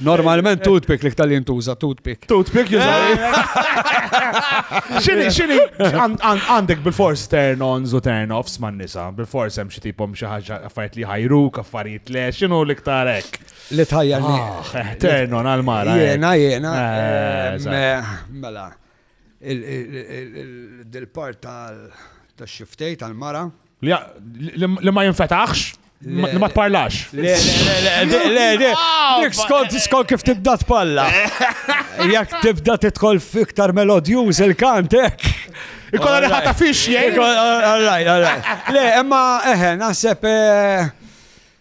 Normalment toothpick li ktal jintuża, toothpick. Toothpick juża. Xini, xini, għandek bil-fors turn-ons u turn-offs man nisa, bil-fors hemm xi tipom xi ħaġa affarijiet li ħajru, affarijiet le, xinu li ktar hekk. Li tħajjarni. Ah, eh, turn-on għal-mara. Jena, jena. Eh, eh, mela. Il-part tal-xiftej tal-mara. Li ma jinfetaħx? Li ma tparlax. Le, le, le, le, skont skont kif tibda tpalla. Jekk tibda tidħol fiktar melodjuż il-kantek. Ikolla li ħata fix jgħid. All right, all right. Le, imma eħe, naħseb eh,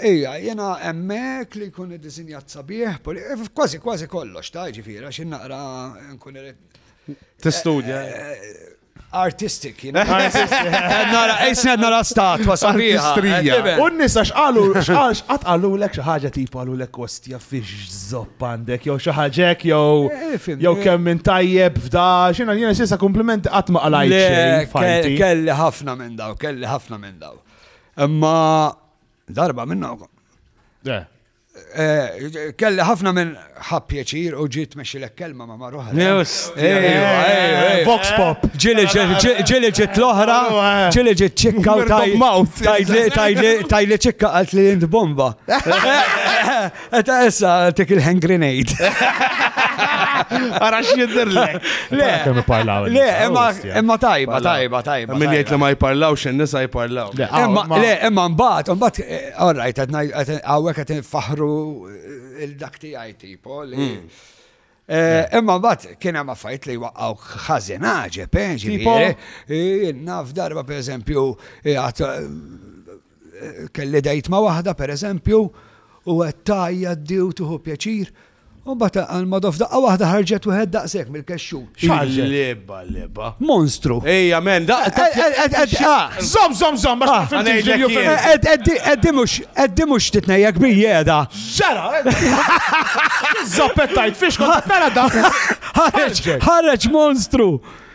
Ija, jiena hemmhekk li jkun iddisinjat sabiħ, kważi kważi kollox ta' ġifieri għax innaqra nkun irid. Tistudja. Eh, eh, artistic, you know. Nara, isna nara statwa sabiħa. Eh, u nisa xqalu, xqax, għatqalu l-ek xaħġa tipu għalu l-ek kostja fiex zopp għandek, jow xaħġek, jow eh, jow eh. kemm minn tajjeb fda, xina jena xisa komplimenti għatma għalajt. Kelli ħafna minn daw, kelli ħafna minn daw. Imma Darba minna u Eh, kelli ħafna minn ħab pjaċir u ġiet meċi l kelma ma marruħa. Vox pop. Ġili ġiet l-oħra, ġili ġiet ċikka u tajli ċikka għalt li jint bomba. Eta issa tek il-hand grenade. Ara x'jidher le. Le, kemm iparlaw. Le, imma imma tajba, tajba, tajba. Min jgħid li ma jparlaw x'in nisa jparlaw. Le, imma mbagħad, mbagħad eh, all right, hawnhekk qed faħru eh, il-dak tiegħi tipo li hmm. Eh, imma bat kien hemm affajt li waqgħu ħażin ġepe, eh, ġifieri. Eh, naf darba pereżempju għat Kelli date ma' waħda, per eżempju, u qed tgħajjat di u tieħu pjaċir, u mbagħad għall-modo f'daqqa waħda ħarġet wieħed daqshekk mill-kexxu. X'ħarġet? Lebba, lebba. Monstru. Ejja, men, daqqa. Zom, zom, zom, ma x'fimtix li jufem. Eddi mhux, eddi mhux titnejjek bijjeda. Ġara! Zoppettajt fiex kont tara da. Ħareġ, ħareġ monstru.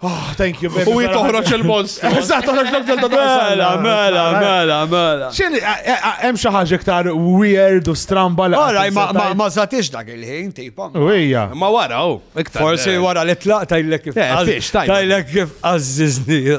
Oh, thank you, baby. U jitoħroċ il-monstru. Eżatt, għax l ta' Mela, mela, mela, mela. Xen, eh, eh, eh, hemm xi ħaġa iktar weird u stramba l Ora, ma zatix dak il-ħin, tipo. Uwija. Ma wara, u. Forsi wara li tlaq tajlek kif. Tajlek kif għazzizni.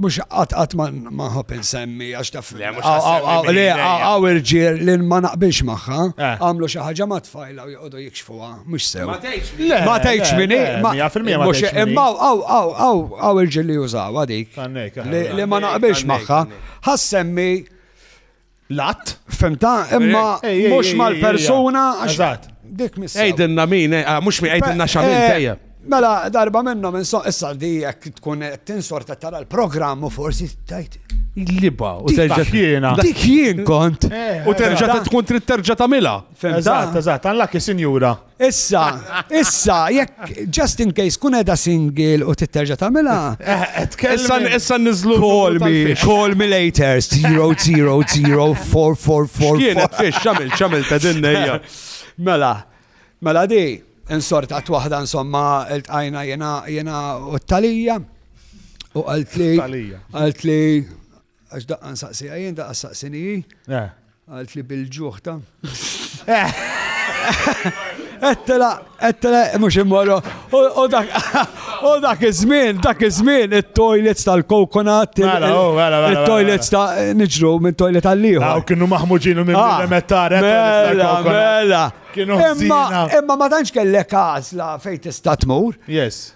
Mux għat għat ma nħob insemmi għax taf. Le, għaw irġiel li ma naqbilx maħħa, eh. għamlu xaħġa ma tfajla u jgħodu jikxfuwa, mux sew. Ma tgħidx minni. Ma tgħidx minni. Imma għaw għaw għaw għaw irġiel li jużaw għadik. Li ma naqbilx maħħa. Ħassemmi L-att? Femta, imma mux mal-persuna. Eżat. Dik mis. Ejdinna min, eh, ah, mux mi ejdinna xamin eh, tejja. Mela, darba minna minn so, issa di jek tkun tinsorta tara l-programm u forsi tajt. Liba, u terġa jiena. Dik jien kont. Eh, u terġa tkun trid terġa tamila. Eżat, eżat, għallak sinjura. Issa, issa, jekk, just in case, kun edha single u titterġa tamela. Eh, eh, issa, issa nizlu. Call me, call me later, 0004444. Kienet fiex, xamil, xamil ta' dinnejja. Mela, mela di, insorta t-wahda, insomma, il-tajna jena, jena u t-talija. U għalt li. Għalt li. Għax daqqa nsaqsija jien, daqqa saqsini hi. Eh. Għalt li bil-ġuħ ta'. Ettela, eh. ettela, mux immorru. U dak, u dak iż-żmien, dak iż-żmien, it-toilets tal-kokonat. Mela, oh, mela, mela, it-toilets ta' niġru minn toilet għal-liħu. Għaw, kienu maħmuġinu minn ah, mettare. Mela, mela. Imma ma tantx kellek għazla fejn tista' tmur. Yes.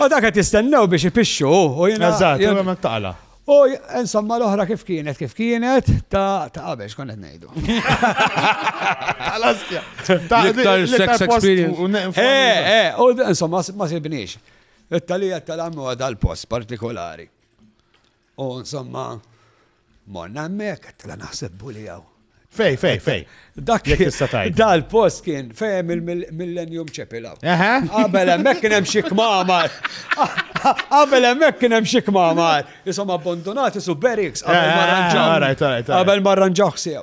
U dak qed jistennew biex ipixxu u jiena. Eżatt, u hemmhekk taqla'. U insomma l-oħra kif kienet kif kienet ta' ta' qabel x'kont qed ngħidu. Tal-Askja. L-iktar sex experience. Eh, eh, u insomma ma sibniex. It-talija tal-għammu għadha l-post partikolari. U insomma, morna hemmhekk, qed naħseb buli hawn. Fej, fej, fej. Dak dal-post kien fehem il-Millennium Chapel hawn. Qabel hemmhekk kien hemm xi kmamar. Qabel hemmhekk kien hemm xi kmamar. Isom abbandonati su Berix qabel ma rranġaw. Qabel ma rranġaw sew.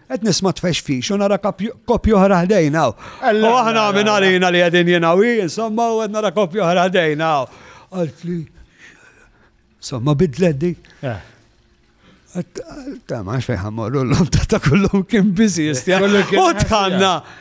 Qed nisma' tfexfix u nara koppja oħra ħdejn hawn. U aħna minn għalina li qegħdin jien hawn, insomma u qed nara koppja oħra ħdejn hawn. Għalt li insomma bidlet di. Eh. Ta' ma xfejħa morru l-lum ta' kullum kien biżi jistja. U tħanna.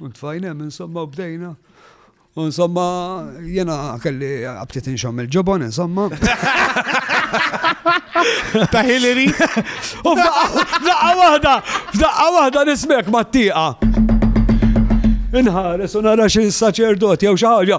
U tfajn hemm insomma u bdejna. U insomma jiena kelli abtit inxomm il-ġobon insomma. Ta' Hillary. U f'daqqa waħda, f'daqqa waħda nismek mat-tieqa. Inħares u nara xi saċerdot jew xi ħaġa.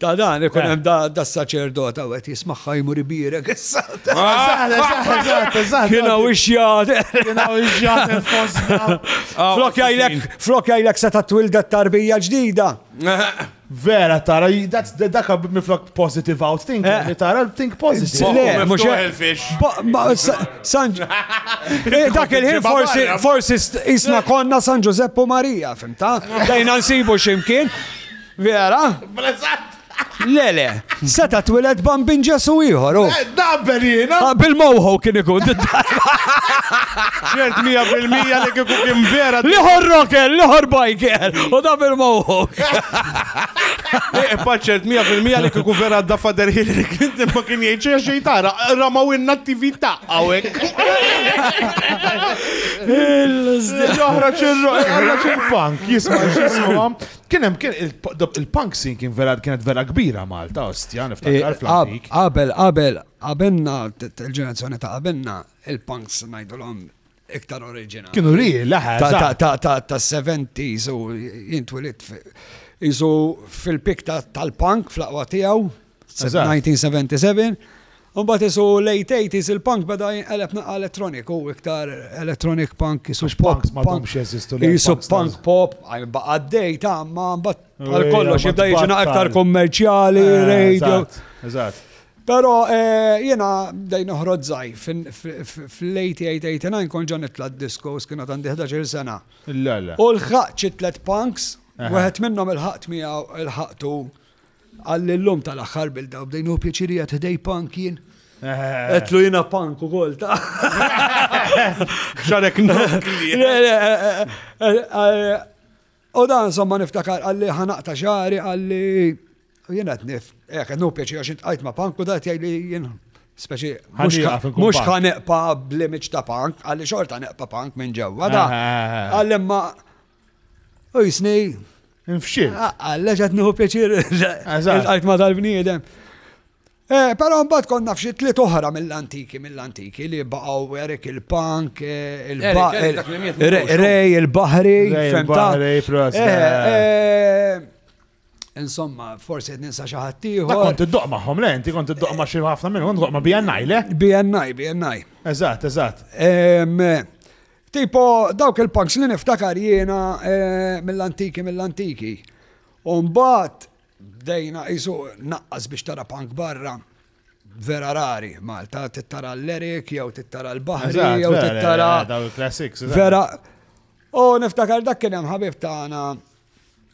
Ta' dan, ikun hemm das-saċerdot hawn qed jismagħha jmur ibierek issa. Kien hawn ix-xjat. Kien hawn ix-xjat fostna. Flok jgħidlek, flok jgħidlek se ta' twildet tarbija ġdida. Vera tara, dak miflok positive out think, eh. li tara think positive. Le, mhux il-fix. San eh, dak il-ħin forsi forsi isna konna San Ġusepp u Marija, fimta? Dejna nsibu x'imkien. Vera? B'reżatt. Le, le, seta' twiled bambin Ġesu ieħor, u. Eh, Dabel jiena. Ah, Bil-mowħu kien ikun. Ġert 100% li kieku kien vera. Liħor rocker, liħor biker, u da bil-mowħu. Eh, Paċċert 100% li kieku vera da fader Hillary Clinton ma kien jgħid xejn xejn tara. Ramaw inna t-TV ta' għawek. Joħra ċirru, joħra ċirru. Punk, jisma, jisma. Kien hemm kien il-punk scene kien vera kienet vera kbira Malta, ostja, niftakar fl-antik. Qabel qabel qabelna il-ġenerazzjoni ta' qabelna il-punks ngħidulhom iktar oriġinali. Kienu ri, laħa. Ta' 70s u jintwilit jisu fil-pik tal-punk fl-aqwa tiegħu. 1977. Umbat isu late 80s il-punk beda jinqeleb naqa elettroniku, iktar electronic punk, isu pop. Isu punk pop, baqa d-dej ta' ma bat għal kollox jibda jiġina iktar kommerċjali, eh, radio. Eżatt. Pero eh, jena dejn uħrod zaj, fil-late 89 kon ġan itla diskos kienu għandi 11 sena. U l-ħaq ċitlet punks, eh. wieħed minnhom il-ħaqt miegħu il-ħaqtu Qal li llum tal-aħħar bilda u bdejnu pjaċiri qed ħdej punk jien. Etlu jina punk u kol ta' xarek nokli. U dan somma niftakar għalli ħanaqta xari għalli jina t-nif. Ek, nu pieċi għax intqajt ma punk u da jgħajli jina. Speċi, mux ħaneqpa blimiċ ta' punk, għalli xorta neqpa punk minn ġewwa da. Għalli ma U jisni. Nfxil. Għalla ġat nieħu pjaċir. Għajt ma dal-bniedem. Eh, Pero mbagħad konna f'xi tliet oħra mill-antiki, mill-antiki li baqgħu Erik il-Punk, eh, il-Rej, il-Bahri, il-Bahri, Insomma, forsi qed ninsa xi ħadd ieħor. Ma kont iddoq magħhom le, inti kont iddoq ma' xi ħafna minnhom, kont ma' BNI le? BNI, BNI. Eżatt, eżatt. Tipo, dawk il-punks li niftakar jiena eh, mill-antiki, mill-antiki. Umbat, bdejna jisu naqqas biex tara punk barra vera rari Malta, tittara l-Lerik, jew tittara l-Bahri, jew tittara. Daw il-classics. Vera. U niftakar dak kien hemm ħabib tagħna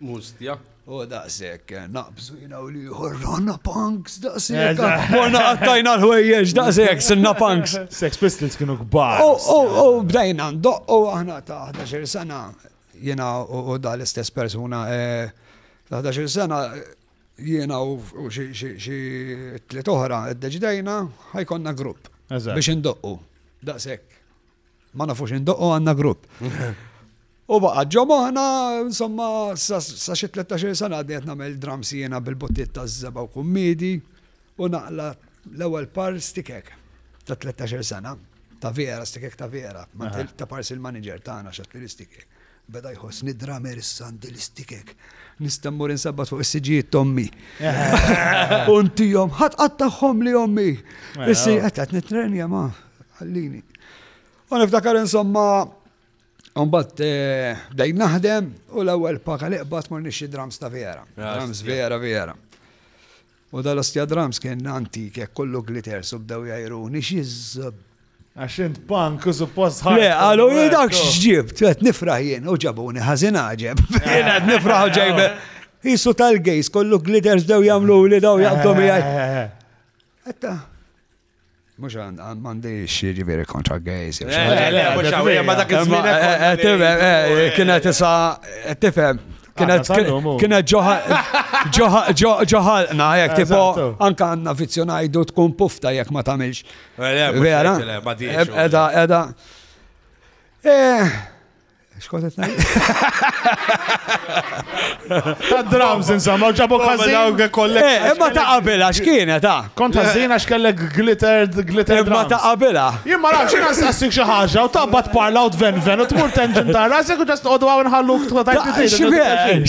Mustja. U daqsek, naqbżu jina u liħor, ronna punks, daqsek. Morna għattajna l-ħwejjeġ, daqsek, sinna punks. Sex Pistols kienu kbar. U bdajna, u aħna ta' 11 sena, jina u da l-istess persona, eh, ta' 11 sena, jina u xie tliet oħra, id-deġdajna, ħajkonna grupp. Biex indoqqu, daqsek. Ma nafux indoqqo għandna grupp. U baqa ġo moħna, insomma, sa xi 13 sena għadni qed nagħmel dram siena bil-bottiet ta' żeba' u kummidi u naqla l-ewwel par stikek ta' 13 sena ta' vera, stikek ta' vera, ta' pars il-manager tagħna xat li stikek. Beda jħossni dramer issa għandi l-istikek. Nista' mmur insabbat fuq is-siġijiet tommi. Untihom ħadd qatt tagħhom li ommi. Mela, Issi oh. qed qed nitrenja ma ħallini. U niftakar insomma Umbat eh, bdejt naħdem u l-ewwel paka li qbad morni xi drums ta' vera. Drums vera vera. U dal-ostja drums kien antik hekk kollu glitters u bdew jgħajruni x'iżżob. Għax int punk u suppost ħadd. Le, qalu hi dak x'ġib, qed nifraħ jien u ġabuni ħażin għaġeb. Jien qed nifraħ u ġejbe. Isu tal-gejs kollu glitters bdew jagħmlu li daw jaqbdu miegħi. Etta. Mux għandi xieġi veri kontra gejz. Ma dak iż-żmien. Kienet issa, tifhem, kienet ġoħalqna, jek tipo, anka għanna vizzjonajdu tkun pufta jek ma tamilx. Vera, edha, edha. Xkont qed ngħid? Ta' drums insomma, ġabu każin. Eh, imma ta' qabila x'kienet ta'. Kont ħażin għax kellek glitter glitter drums. Imma ta' qabila. Jien ma nafx jiena nsassik xi ħaġa u tabbat parla u tven ven u tmur tenġin ta' rasek u ġast qogħdu għaw nħalluk tħu ta'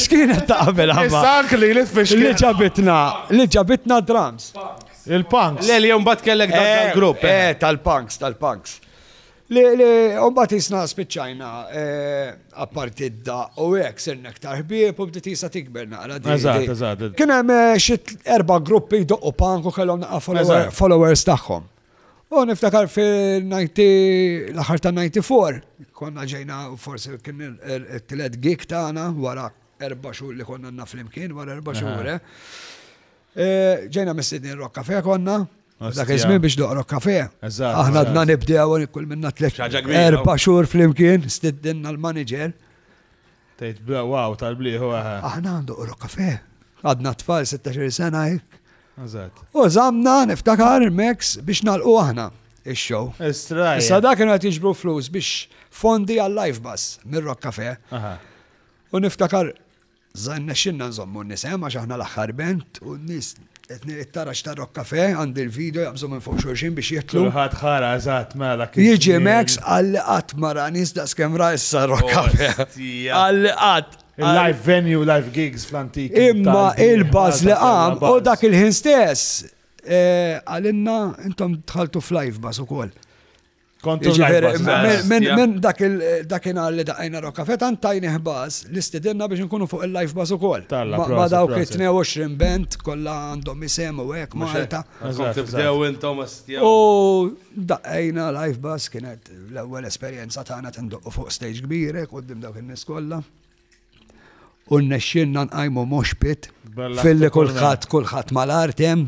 X'kienet ta' qabila? Issa li li tfix. Li ġabitna, li ġabitna drums. Il-punks. Le li jom bat kellek dak eh, il-grupp. Eh, eh, tal-punks, tal-punks. Li mbagħad jisna spiċċajna apparti d-da u hekk sirna aktar ħbieb u bdiet jisa tikber naqra. Eżatt, eżatt. Kien hemm xi erba' gruppi jdoqqu punk u kellhom naqra followers tagħhom. U niftakar fil-90 l-aħħar ta' 94 konna ġejna forsi kien it-tielet gig tagħna wara erba' xhur li konna naf flimkien wara erba' xhur. Ġejna mistednin Rock Cafe konna. Dak iż-żmien biex noqrok kafe. Aħna dna nibdew kull minna tliet. Erba' xhur flimkien stiddinna l-manager. Tgħid bla wow tal-blieħu aħna. Aħna għandu qrok kafe. Għadna tfal 16 sena hekk. U żamna niftakar Max biex nalqu aħna ix-show. Issa dak kienu qed jiġbru flus biex fondi għal live bus mir-Rock Cafe. U niftakar Sa rnexxilna nżommu n-nisem għax aħna l-aħħar band u n-nies qed nir it-tara x'tar-Rock Café għandi l-video jaqbżu minn fuq xulxin biex jidħlu. Kulħadd ħara eżatt mela dak iż-żmien. Jiġi Max qal li qatt ma ra nies daqskemm ra issa r-Rock Café. Qal li qatt. Il-live venue, live gigs fl-antik. Imma il-buzz li qam u dak il-ħin stess qalilna intom dħaltu f'live buzz ukoll. Kontu Jiġifieri, l-għajba, minn- Bas, minn- ja. Minn dak il- dakinhar li daqajna Rocca Fetan tajni ħbas li stidinna biex nkunu fuq il-live bas ukoll. Talla, Ma- Ma proset, dawk proset. 22 band kollha għandhom isem u hekk Mhux hekk. Malta. Kom Eżatt, tibdew intom astja. U daqajna live bas kienet l-ewwel esperjenza tagħna tindoqqu fuq stage kbirek qudiem dawk in-nies kollha. U nnexxinna nqajmu moshpit Bella filli ħafna kulħadd kulħadd mal-artem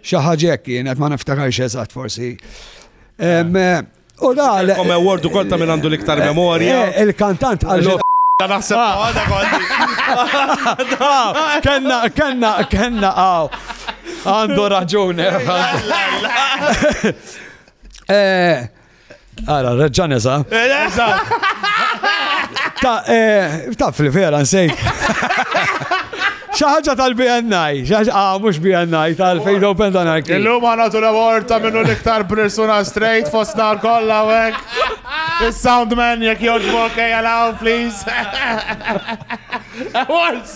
Xi ħaġa hekk kienet ma niftakarx eżatt forsi. U da. Kom award ukoll ta' minn għandu l-iktar eh, memorja. Eh, il-kantant għallu. Ta' naħseb ah. għada kolli. Kenna, kenna, kenna għaw. Għandu raġuni. Eh, Ara, reġġa nesa. Ta' eh, taf li vera nsejt. Xaħġa tal-BNI, xaħġa, ah, mux BNI, tal-Fade Open dan għarki. Illum għana tu l-award ta' minnu l-iktar persuna straight fost nar kolla għek. Il-soundman jek joġbok ejalaw, please. Awards!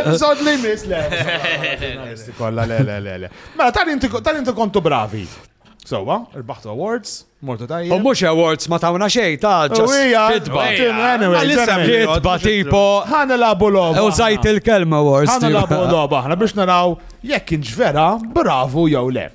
Episod li mis, le. Kolla, le, le, le, le. Ma, mela, tal-inti kontu bravi. Sowa, il-baħtu awards, mortu tajja. U mux awards ma tawna xej, ta' ġuwija. Kitba, tipo. Għana labu loba. U zajt il-kelma awards. Għana labu loba, għana biex naraw jekk inġvera, bravu jew le.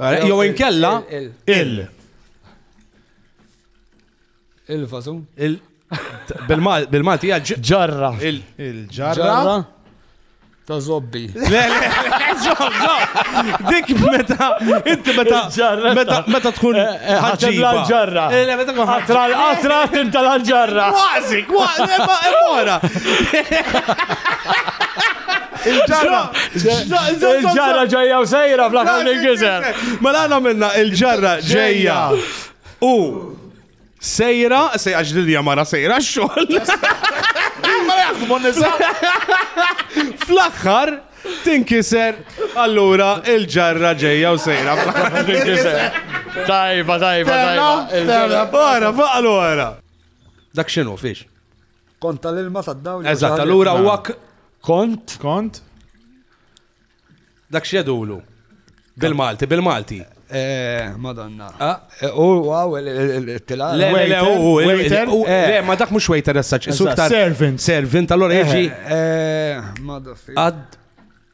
Eh, jew inkella il. Il-fażun. Bil-Malti ġarra. Il-ġarra. Ta' zobbi. Le, le, zobbi. Dik meta, inti meta, meta, meta tkun eh, eh, ħagġiba. ġarra eh, Le, meta tkun ħatra, ħatra tinta l-ġarra. Kważi, kważi, emora. Il-ġarra! Il-ġarra ġejja u sejra fl-aħħar il-gizer. Mela għana minna il-ġarra ġejja u sejra, sejra ġdilja mara sejra xol. Fl-aħħar tinkiser, allura il-ġarra ġejja u sejra fl-aħħar tinkiser. Tajba, tajba, tajba. Għara, faqlu għara. Dak xinu, fiex. Kont tal-ilma tad-dawl. Eżatt, allura huwa kont. Kont. Dak x'jedulu. Bil-Malti, bil-Malti. Eh, Madonna. Ah. Eh, u għaw il-tila. Le, le, u waiter. Eh. Le, ma dak mux waiter essaċ. Servant. Servant, allora jieġi. Madonna. Ad.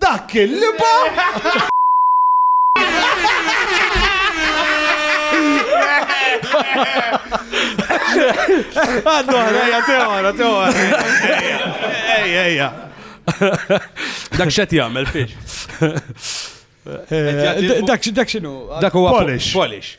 Dak kien liba! Għaddu ħrejja, teħora, teħora. Ejja, ejja. Dak xet jgħamil fiex. Eh, dak xinu? Dak huwa polish. Polish.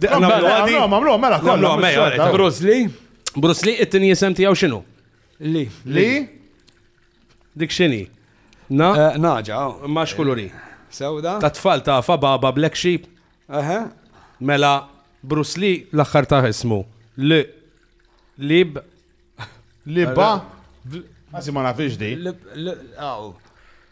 Għamlu, mela, kollu, mela. Bruce Lee. Bruce Lee, it-tini jisem tijaw xinu? Li. Li? Dik xini? Na? Eh, naġa. Oh. Max kuluri. Sewda? Ta' tfal ta' fa baba Black Sheep. Aha. Mela, Bruce Lee l-axħar ta' ismu. Li. Lib. Libba. Għazi ma nafix di. Aw.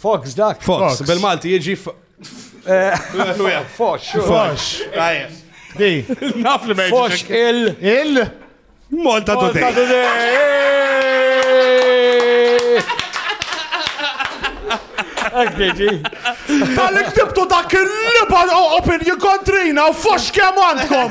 Fox dak. Fox, bil-Malti jiġi Fox. Fox. Di. Naf li meġi. Fox il. Il. Malta Today. Ekbieġi. Tal-li ktibtu dak il-liba opinju kontrina u fox kemm għandkom.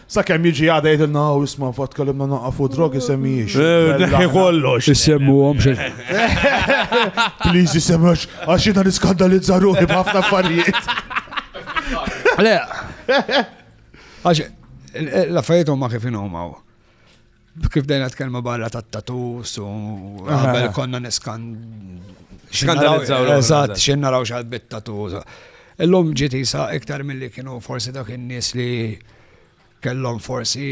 Sakemm jiġi għada jgħidilna u isma' fatt kellimna naqafu drogi semmijiex. Eh, neħi kollox. Issemmu għom xe. Please isemmu għax jina niskandalizza ruħi b'ħafna affarijiet. Le, għax l-affarijiet huma kif inhom hawn. Kif dejna tkellmu barra ta' tatus u għabel konna niskan. Xkandalizzaw. Eżatt, xin naraw xal bit tatus. Illum ġiti sa' iktar mill-li kienu forsi dak in-nies li kellhom forsi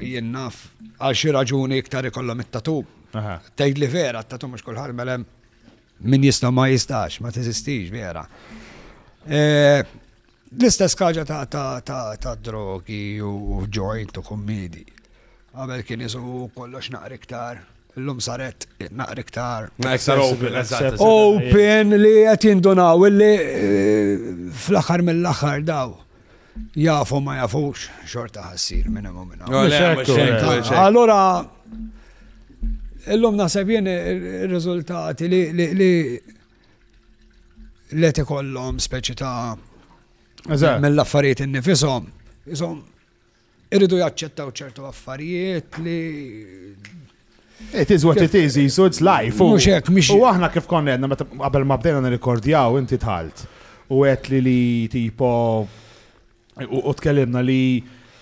jinnaf għal xi raġuni iktar ikollhom it-tatu. Tgħid li vera, t-tatu mhux kulħadd melem min jista' ma jistax, ma teżistix vera. E, L-istess kaġa ta' drogi u joint u kummidi. Għabel kien isu kollox naqri ktar. L-lum saret naqri ktar. Open li għet jindunaw illi eh, fl-axar mill-axar daw. Jafu ma jafux xorta ħassir minn imma minn Allora, l-lum nasab jien il-rizultati li let ikollhom speċi ta' mill-affarijiet innifishom, isom irridu jaċċettaw ċertu affarijiet li It is what it is, jisu it's life. U xek, mux. U aħna kif konna għedna, meta qabel ma bdejna nirrikordjaw, inti tħalt. U għet li li tipo U tkellimna li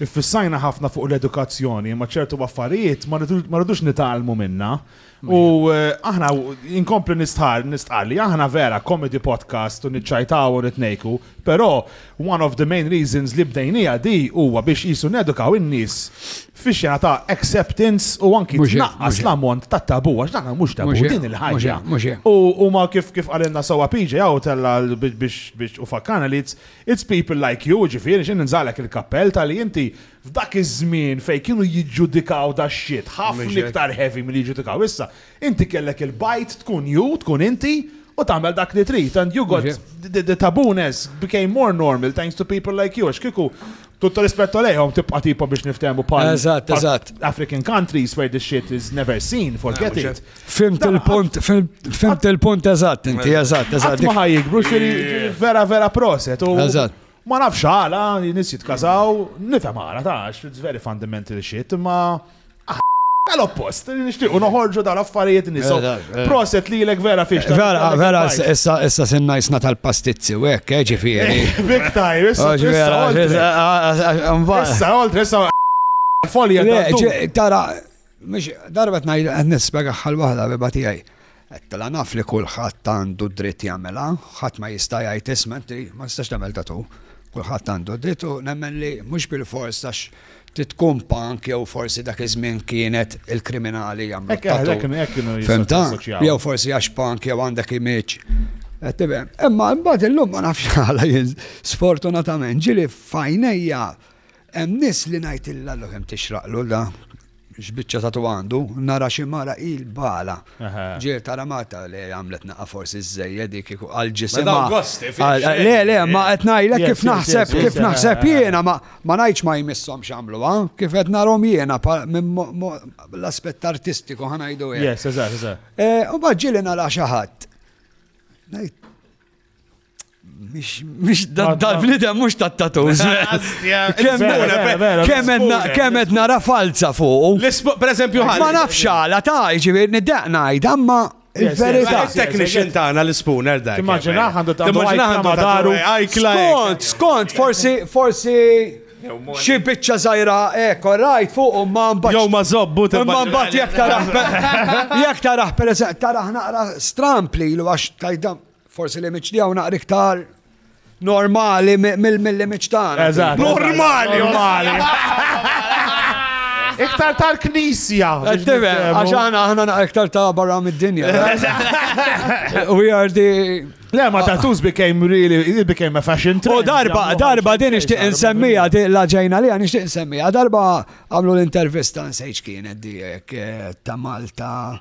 Iffissajna ħafna fuq l-edukazzjoni, ma ċertu affarijiet ma rridux nitalmu minna. U eh, aħna inkompli nistħar, nistqar li aħna vera comedy podcast u nitċajtaw u nitnejku, però one of the main reasons li bdejnija di huwa biex jisu nedukaw in-nies fi xena ta' acceptance u anki tnaqqas l-ammont ta' tabu, għax daħna mux tabu, din il-ħagġa. U ma kif kif għalinna sawa PJ għaw tella biex u fakkana li It's people like you, jiġifieri, xi ninżagħlek il-kappell talli inti f'dak iż-żmien fejn kienu jiġġudikaw dax-shit ħafna iktar heavy milli jiġġudikaw issa, inti kellek il-bajt tkun you, tkun inti, u tagħmel dak li trid and you got, the tabooness became more normal thanks to people like you għax kieku Tutto rispetto għalihom tibqa' tipo biex niftehmu bħal. Eżatt, eżatt. African countries where this shit is never seen, forget eh, it. Fimt il-punt, fimt il-punt eżatt inti, eżatt, eżatt. Ma ħajjikbru vera vera proset. Eżatt. Ma nafx għala, nis jitkazaw, nifhem għala, tax, it's very fundamental shit, ma. Tal-oppost, nixtiequ noħorġu dal-affarijiet nisu. Eh, eh, eh. Proset li l-ek vera fiex. Vera, vera, issa sinna jisna tal-pastizzi u hekk, ġifieri. Big time, issa. Issa, oltre, issa. Folja. Tara, mux, darbet najd, nispega xal wahda beba tijaj. Għedtilha naf li kulħadd għandu d-dritt jagħmilha, ħadd ma jista' jgħid isma' inti ma tistax tagħmel tattoo. Kulħadd għandu d-dritt u nemmen li mhux bilfors għax trid tkun punk jew forsi dak iż-żmien kienet il-kriminali jagħmlu Hekk tattoo. hekk hekk kienu jistgħu Fimta? jassoċjaw. Jew forsi għax punk jew għandek imiċ. Qed tifhem? Imma mbagħad illum ma nafx għala jien sfortunatament ġieli f'għajnejja Hemm nies li ngħidtilha l kemm tixraqlu da x'biċċa tatu għandu, nara xi mara il bala. Ġiel tara Marta li għamlet naqa' forsi żejjed dik għal ġisimha. Le le ma qed ngħidlek kif naħseb kif naħseb jiena ma ngħidx ma jmisshom x'għamluha, kif qed narhom jiena l-aspett artistiku ħa ngħidu hekk. Yes, eżatt, eżatt. U bad ġieli nara xi ħadd. Mux dal-bnidem mux ta' tattoos. Kemet nara falza fuq. Per eżempju, ma nafx għala ta' ġivir niddeq najd, amma il-verita. Il-technician tagħna l-spooner dak. Immaġina għandu ta' daru. Skont, skont, forsi, forsi. Xi biċċa żgħira hekk, rajt fuq u ma mbagħad. Jew ma żobbu ta' ma mbagħad jekk taraħ. Jekk taraħ pereżempju taraħ naqra strampli għax tajdam. Forsi li miċ tiegħu naqra iktar normali mill-li miċ tagħna. Eżatt. Normali, normali. Iktar tal-knisja. Għax aħna aħna naqra iktar ta' barra mid-dinja. We are the Le, ma tattoos became really, it became a fashion trend. U darba, darba din ixtieq insemmija, la ġejna li għan ixtieq insemmija, darba għamlu l-intervista nsejċ kienet di eh, ta' Malta.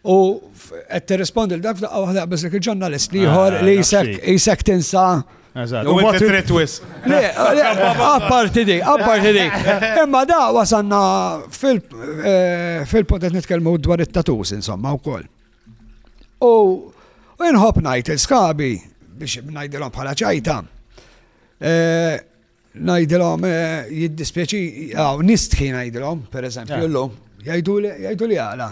U qed tirrispondi l dak f'daqqa waħda biss dik il-ġurnalist li ieħor ah, li jisek tinsa. U ma titret wis. Le, apparti di, apparti di. Imma da wasanna eh, fil-punt qed nitkellmu dwar it-tatus insomma wkoll. U inħobb ngħid il-skabi biex ngħidilhom bħala ċajta. Eh, Ngħidilhom jiddispjaċi, nistħi ngħidilhom, pereżempju eh. llum, jgħidu li għala.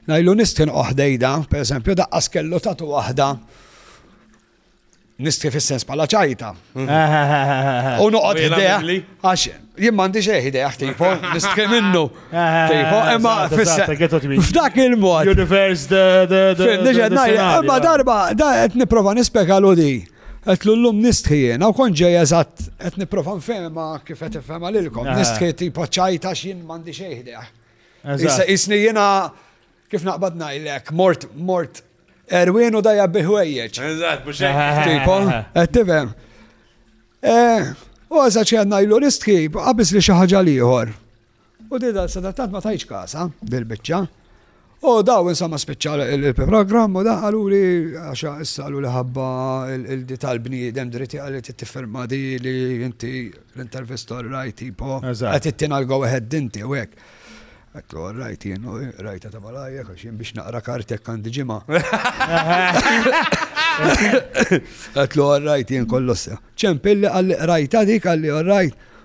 Ngħidu nistħin oħdejda, pereżempju daqqas kellu tatu waħda nistħi fis-sens pala ċajta. U noqgħod idea għax jien m'għandix eh idea tipo nistħi minnu. Tipo imma f'dak il-mod. Universe the the the. Imma darba qed nipprova nispjega di. Għedtlu llum nistħi jiena u kont ġej eżatt qed nipprova nfehimha kif qed ifhemha lilkom. Eh. Nistħi tipo ċajt għax jien m'għandi xejn ħdejh. Issa isni jiena kif naqbad ngħidlek mort mort Erwin u dajja biħwejjeġ. Eżatt, mhux hekk. Tipo, qed tifhem. Eh, u għażaċ għandna jlu nistħi, qabis li xi ħaġa l-ieħor. U di dal sena tant ma tajtx kasha dil biċċa. U daw insomma spiċċa il-programm u daħ għaluli għax issa għaluli ħabba il-di tal-bniedem dritti għalli t-tifferma di li inti l-intervistor rajt tipo għat it-tina l-go ahead dinti u għek. Għattu rajt jien u rajta ta' malajja għax jien biex naqra kartek għandi ġima. Għattu rajt jien kollossa. ċempilli għalli rajta dik għalli rajt.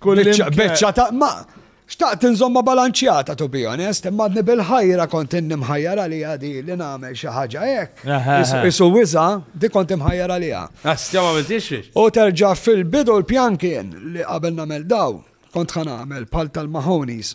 Beċċa ta' ma' xtaqt nżomma balanċjata to be honest, imma għadni bil-ħajra kont inni mħajjar għalija di li nagħmel xi ħaġa hekk. Isu wiża di kont imħajjar għalija. Għastja ma biltixx. U terġa' fil-bidu l-pjan kien li qabel nagħmel daw kont ħa nagħmel bħal tal-Mahonies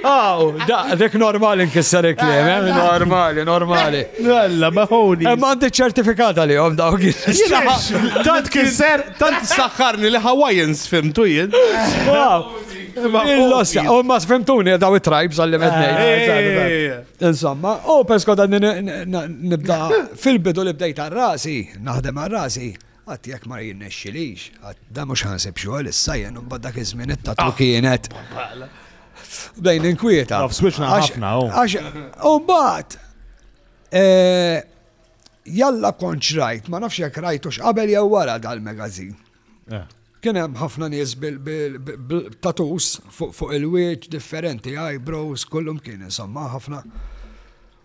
Aw, da, dik normali nkisser il-kliem, eh? eh normali, normali. Għalla, eh, maħoni. Eh, ma għandi ċertifikata li għom daw Tant kisser, tant saħħarni li Hawaiians fimtu jien. Il-lossa, u ma sfimtuni daw it-tribes għalli mednej. Insomma, u pesko dan nibda fil-bidu li bdejt għal-rasi, naħdem għal-rasi. Qatt jekk ma jirnexxilix, qatt dan mhux ħa nsib xogħol issa jien imbagħad dak iż-żmien it-tatu kienet. Bdejn inkwieta. Naf swiċna Għax- ħafna oh. u. Għax, u mbagħad, eh, jalla konċ rajt, ma nafx jekk rajtux qabel jew wara dal-magazin. Eh. Kien hemm ħafna nies bil- bil- bil- bil-tatus fuq fuq il-wieġ differenti, eyebrows, kullum kien insomma ħafna.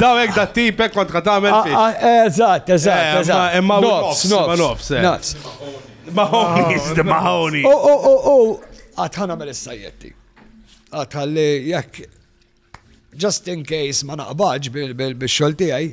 Daw hekk da tipek kont qed tagħmel fih. Ah, ah, eh, eżatt, eżatt, eh, eżatt. Imma nofs, nofs, nofs. Eh. Nofs. Maħoni, maħoni. U u u u għad ħanamel is-sajjetti. Għad ħalli jekk just in case ma naqbaġ bil-xogħol tiegħi.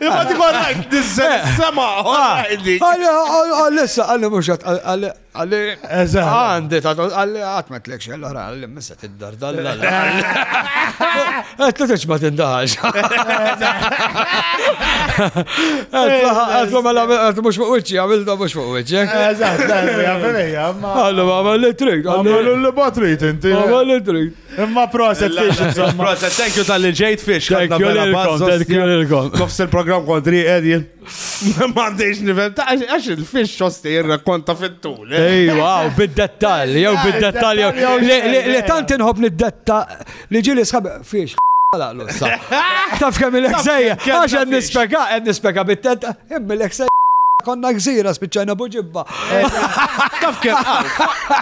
Imma ti għalla nizzel sema, għalli. Għalli, għalli, mux għalli, għalli, għandi, għalli, għatmet l-ek xell, għalli, missa t-dar dalla. Għet l-teċ ma tindaħax. Għet mela, għet mux fuq uċi, għamil da mux fuq uċi. Eżat, għamil li trik, għamil li batrit, inti. Għamil li trik. Imma proset fiex, insomma. Proset, thank you tal-li ġejt fiex. Thank you lilkom, thank you lilkom. Nofs il-program kontri edji. Ma għandix nifem, għax il-fiex xosti jirrakkonta fit-tul. Eh? Ej, wow, bid-dettal, jew bid-dettal, jew li tant inħob nid-detta li ġili sħab fiex. Taf kemm il-ek sejja, għax għed nispeka, għed nispeka bit-tenta. Imbilek se konna gżira spiċċajna buġibba. Taf kien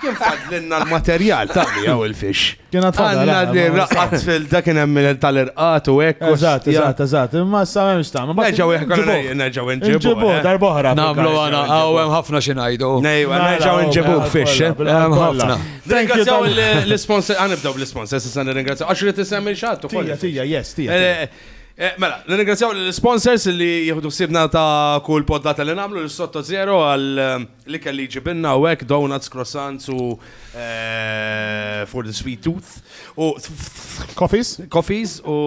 kien fadlinna l-materjal ta' miegħu il-fix. Kien għandna l-irqat fil-da kien hemm tal-irqat u hekk. Eżatt, eżatt, eżatt. Imma sa m'hemmx ta' Nerġgħu jekk nerġgħu nġibu. Nġibu darb'oħra. Nagħmlu għana hawn hemm ħafna xi ngħidu. Nejwa, nerġgħu nġibu fix. Hemm ħafna. Ringrazzjaw l-sponsor, għanibdew bl-sponsor, s'issa nirringrazzjaw. Għax rid isemmi xatt ukoll. Tija, tija, yes, tija. Eh, mela, nirringrazzjaw l-sponsors li jieħdu sibna ta' kull poddata li namlu l-sotto zero għal eh, li kelli ġibinna u għek, donuts, croissants u eh, for the sweet tooth. U coffees? Coffees u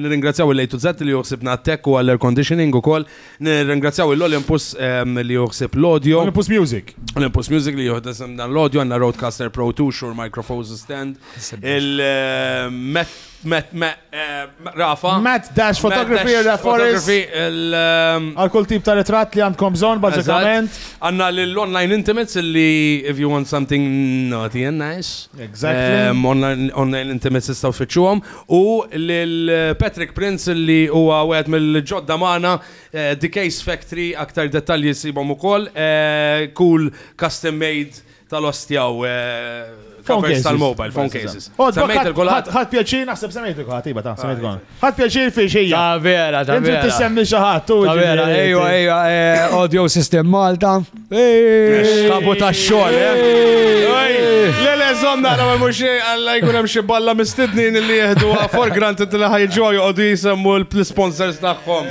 nirringrazzjaw l lejtu zet li juħsibna tech u għall-air conditioning u koll. Nirringrazzjaw l-Olympus li juħsib l-audio. Olympus Music. Olympus Music li juħsib dan l-audio għanna Roadcaster Pro 2, Shure Microphone Stand. Il-Met Matt, Matt, eh, Rafa. Matt Dash Photography, Matt Dash Forest. Ehm, Għal kull tip ta' ritratt li għandkom bżon, bazzikament. Għanna l-online intimates li if you want something naughty and nice. Exactly. Ehm, online intimates istaw xieċuħom. U l-Patrick Prince li huwa għed mill-ġodda maħna eh, The Case Factory, aktar dettalji sibom u koll. Eh, cool, custom made tal-ostja u covers tal-mobile, phone cases. Semmejt il-kulħadd. Ħadd pjaċir naħseb semmejt il-kulħadd, iva ta' semmejt kulħadd. Ah, ħadd pjaċir fi xejja. Ta' vera, ta' vera. Inti tissemmi xi ħadd u. Ta' vera, ejwa, ejwa, eh, audio system Malta. Kabu ta' xogħol, eh. Le le żomm nara ma mhux alla jkun hemm xi balla mistednin li jieħdu for granted li ħajġu joqogħdu jisemmu l-sponsors tagħhom.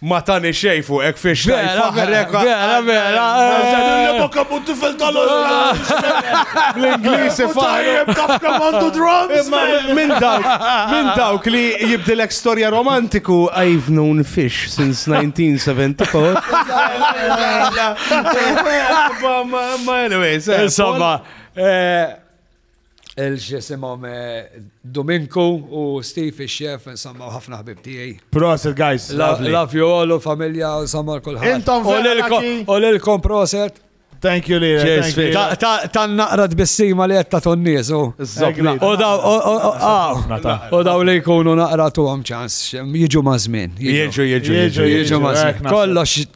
Ma tani xej fuq ek fiex xej faħrek. Vera, vera. Għazan bokka bu tifel tal L-Inglis faħrek. Kafka mandu drums. Minn dawk, minn dawk li jibdilek storja romantiku I've known fish since 1974. Ma anyways. Eh, Insomma, eh, il-ġisimom Dominku u Steve il-xef, insomma, ħafna ħbib tijaj. Proset, guys. Love you all u familja, insomma, kullħat. Intom U l-kom proset. Thank you, Lira. Ta' naqra tbissima li jetta tonniz, u. U daw li jkunu naqra tu għam ċans, jieġu mażmin. Jieġu, jieġu, jieġu mażmin. Kollox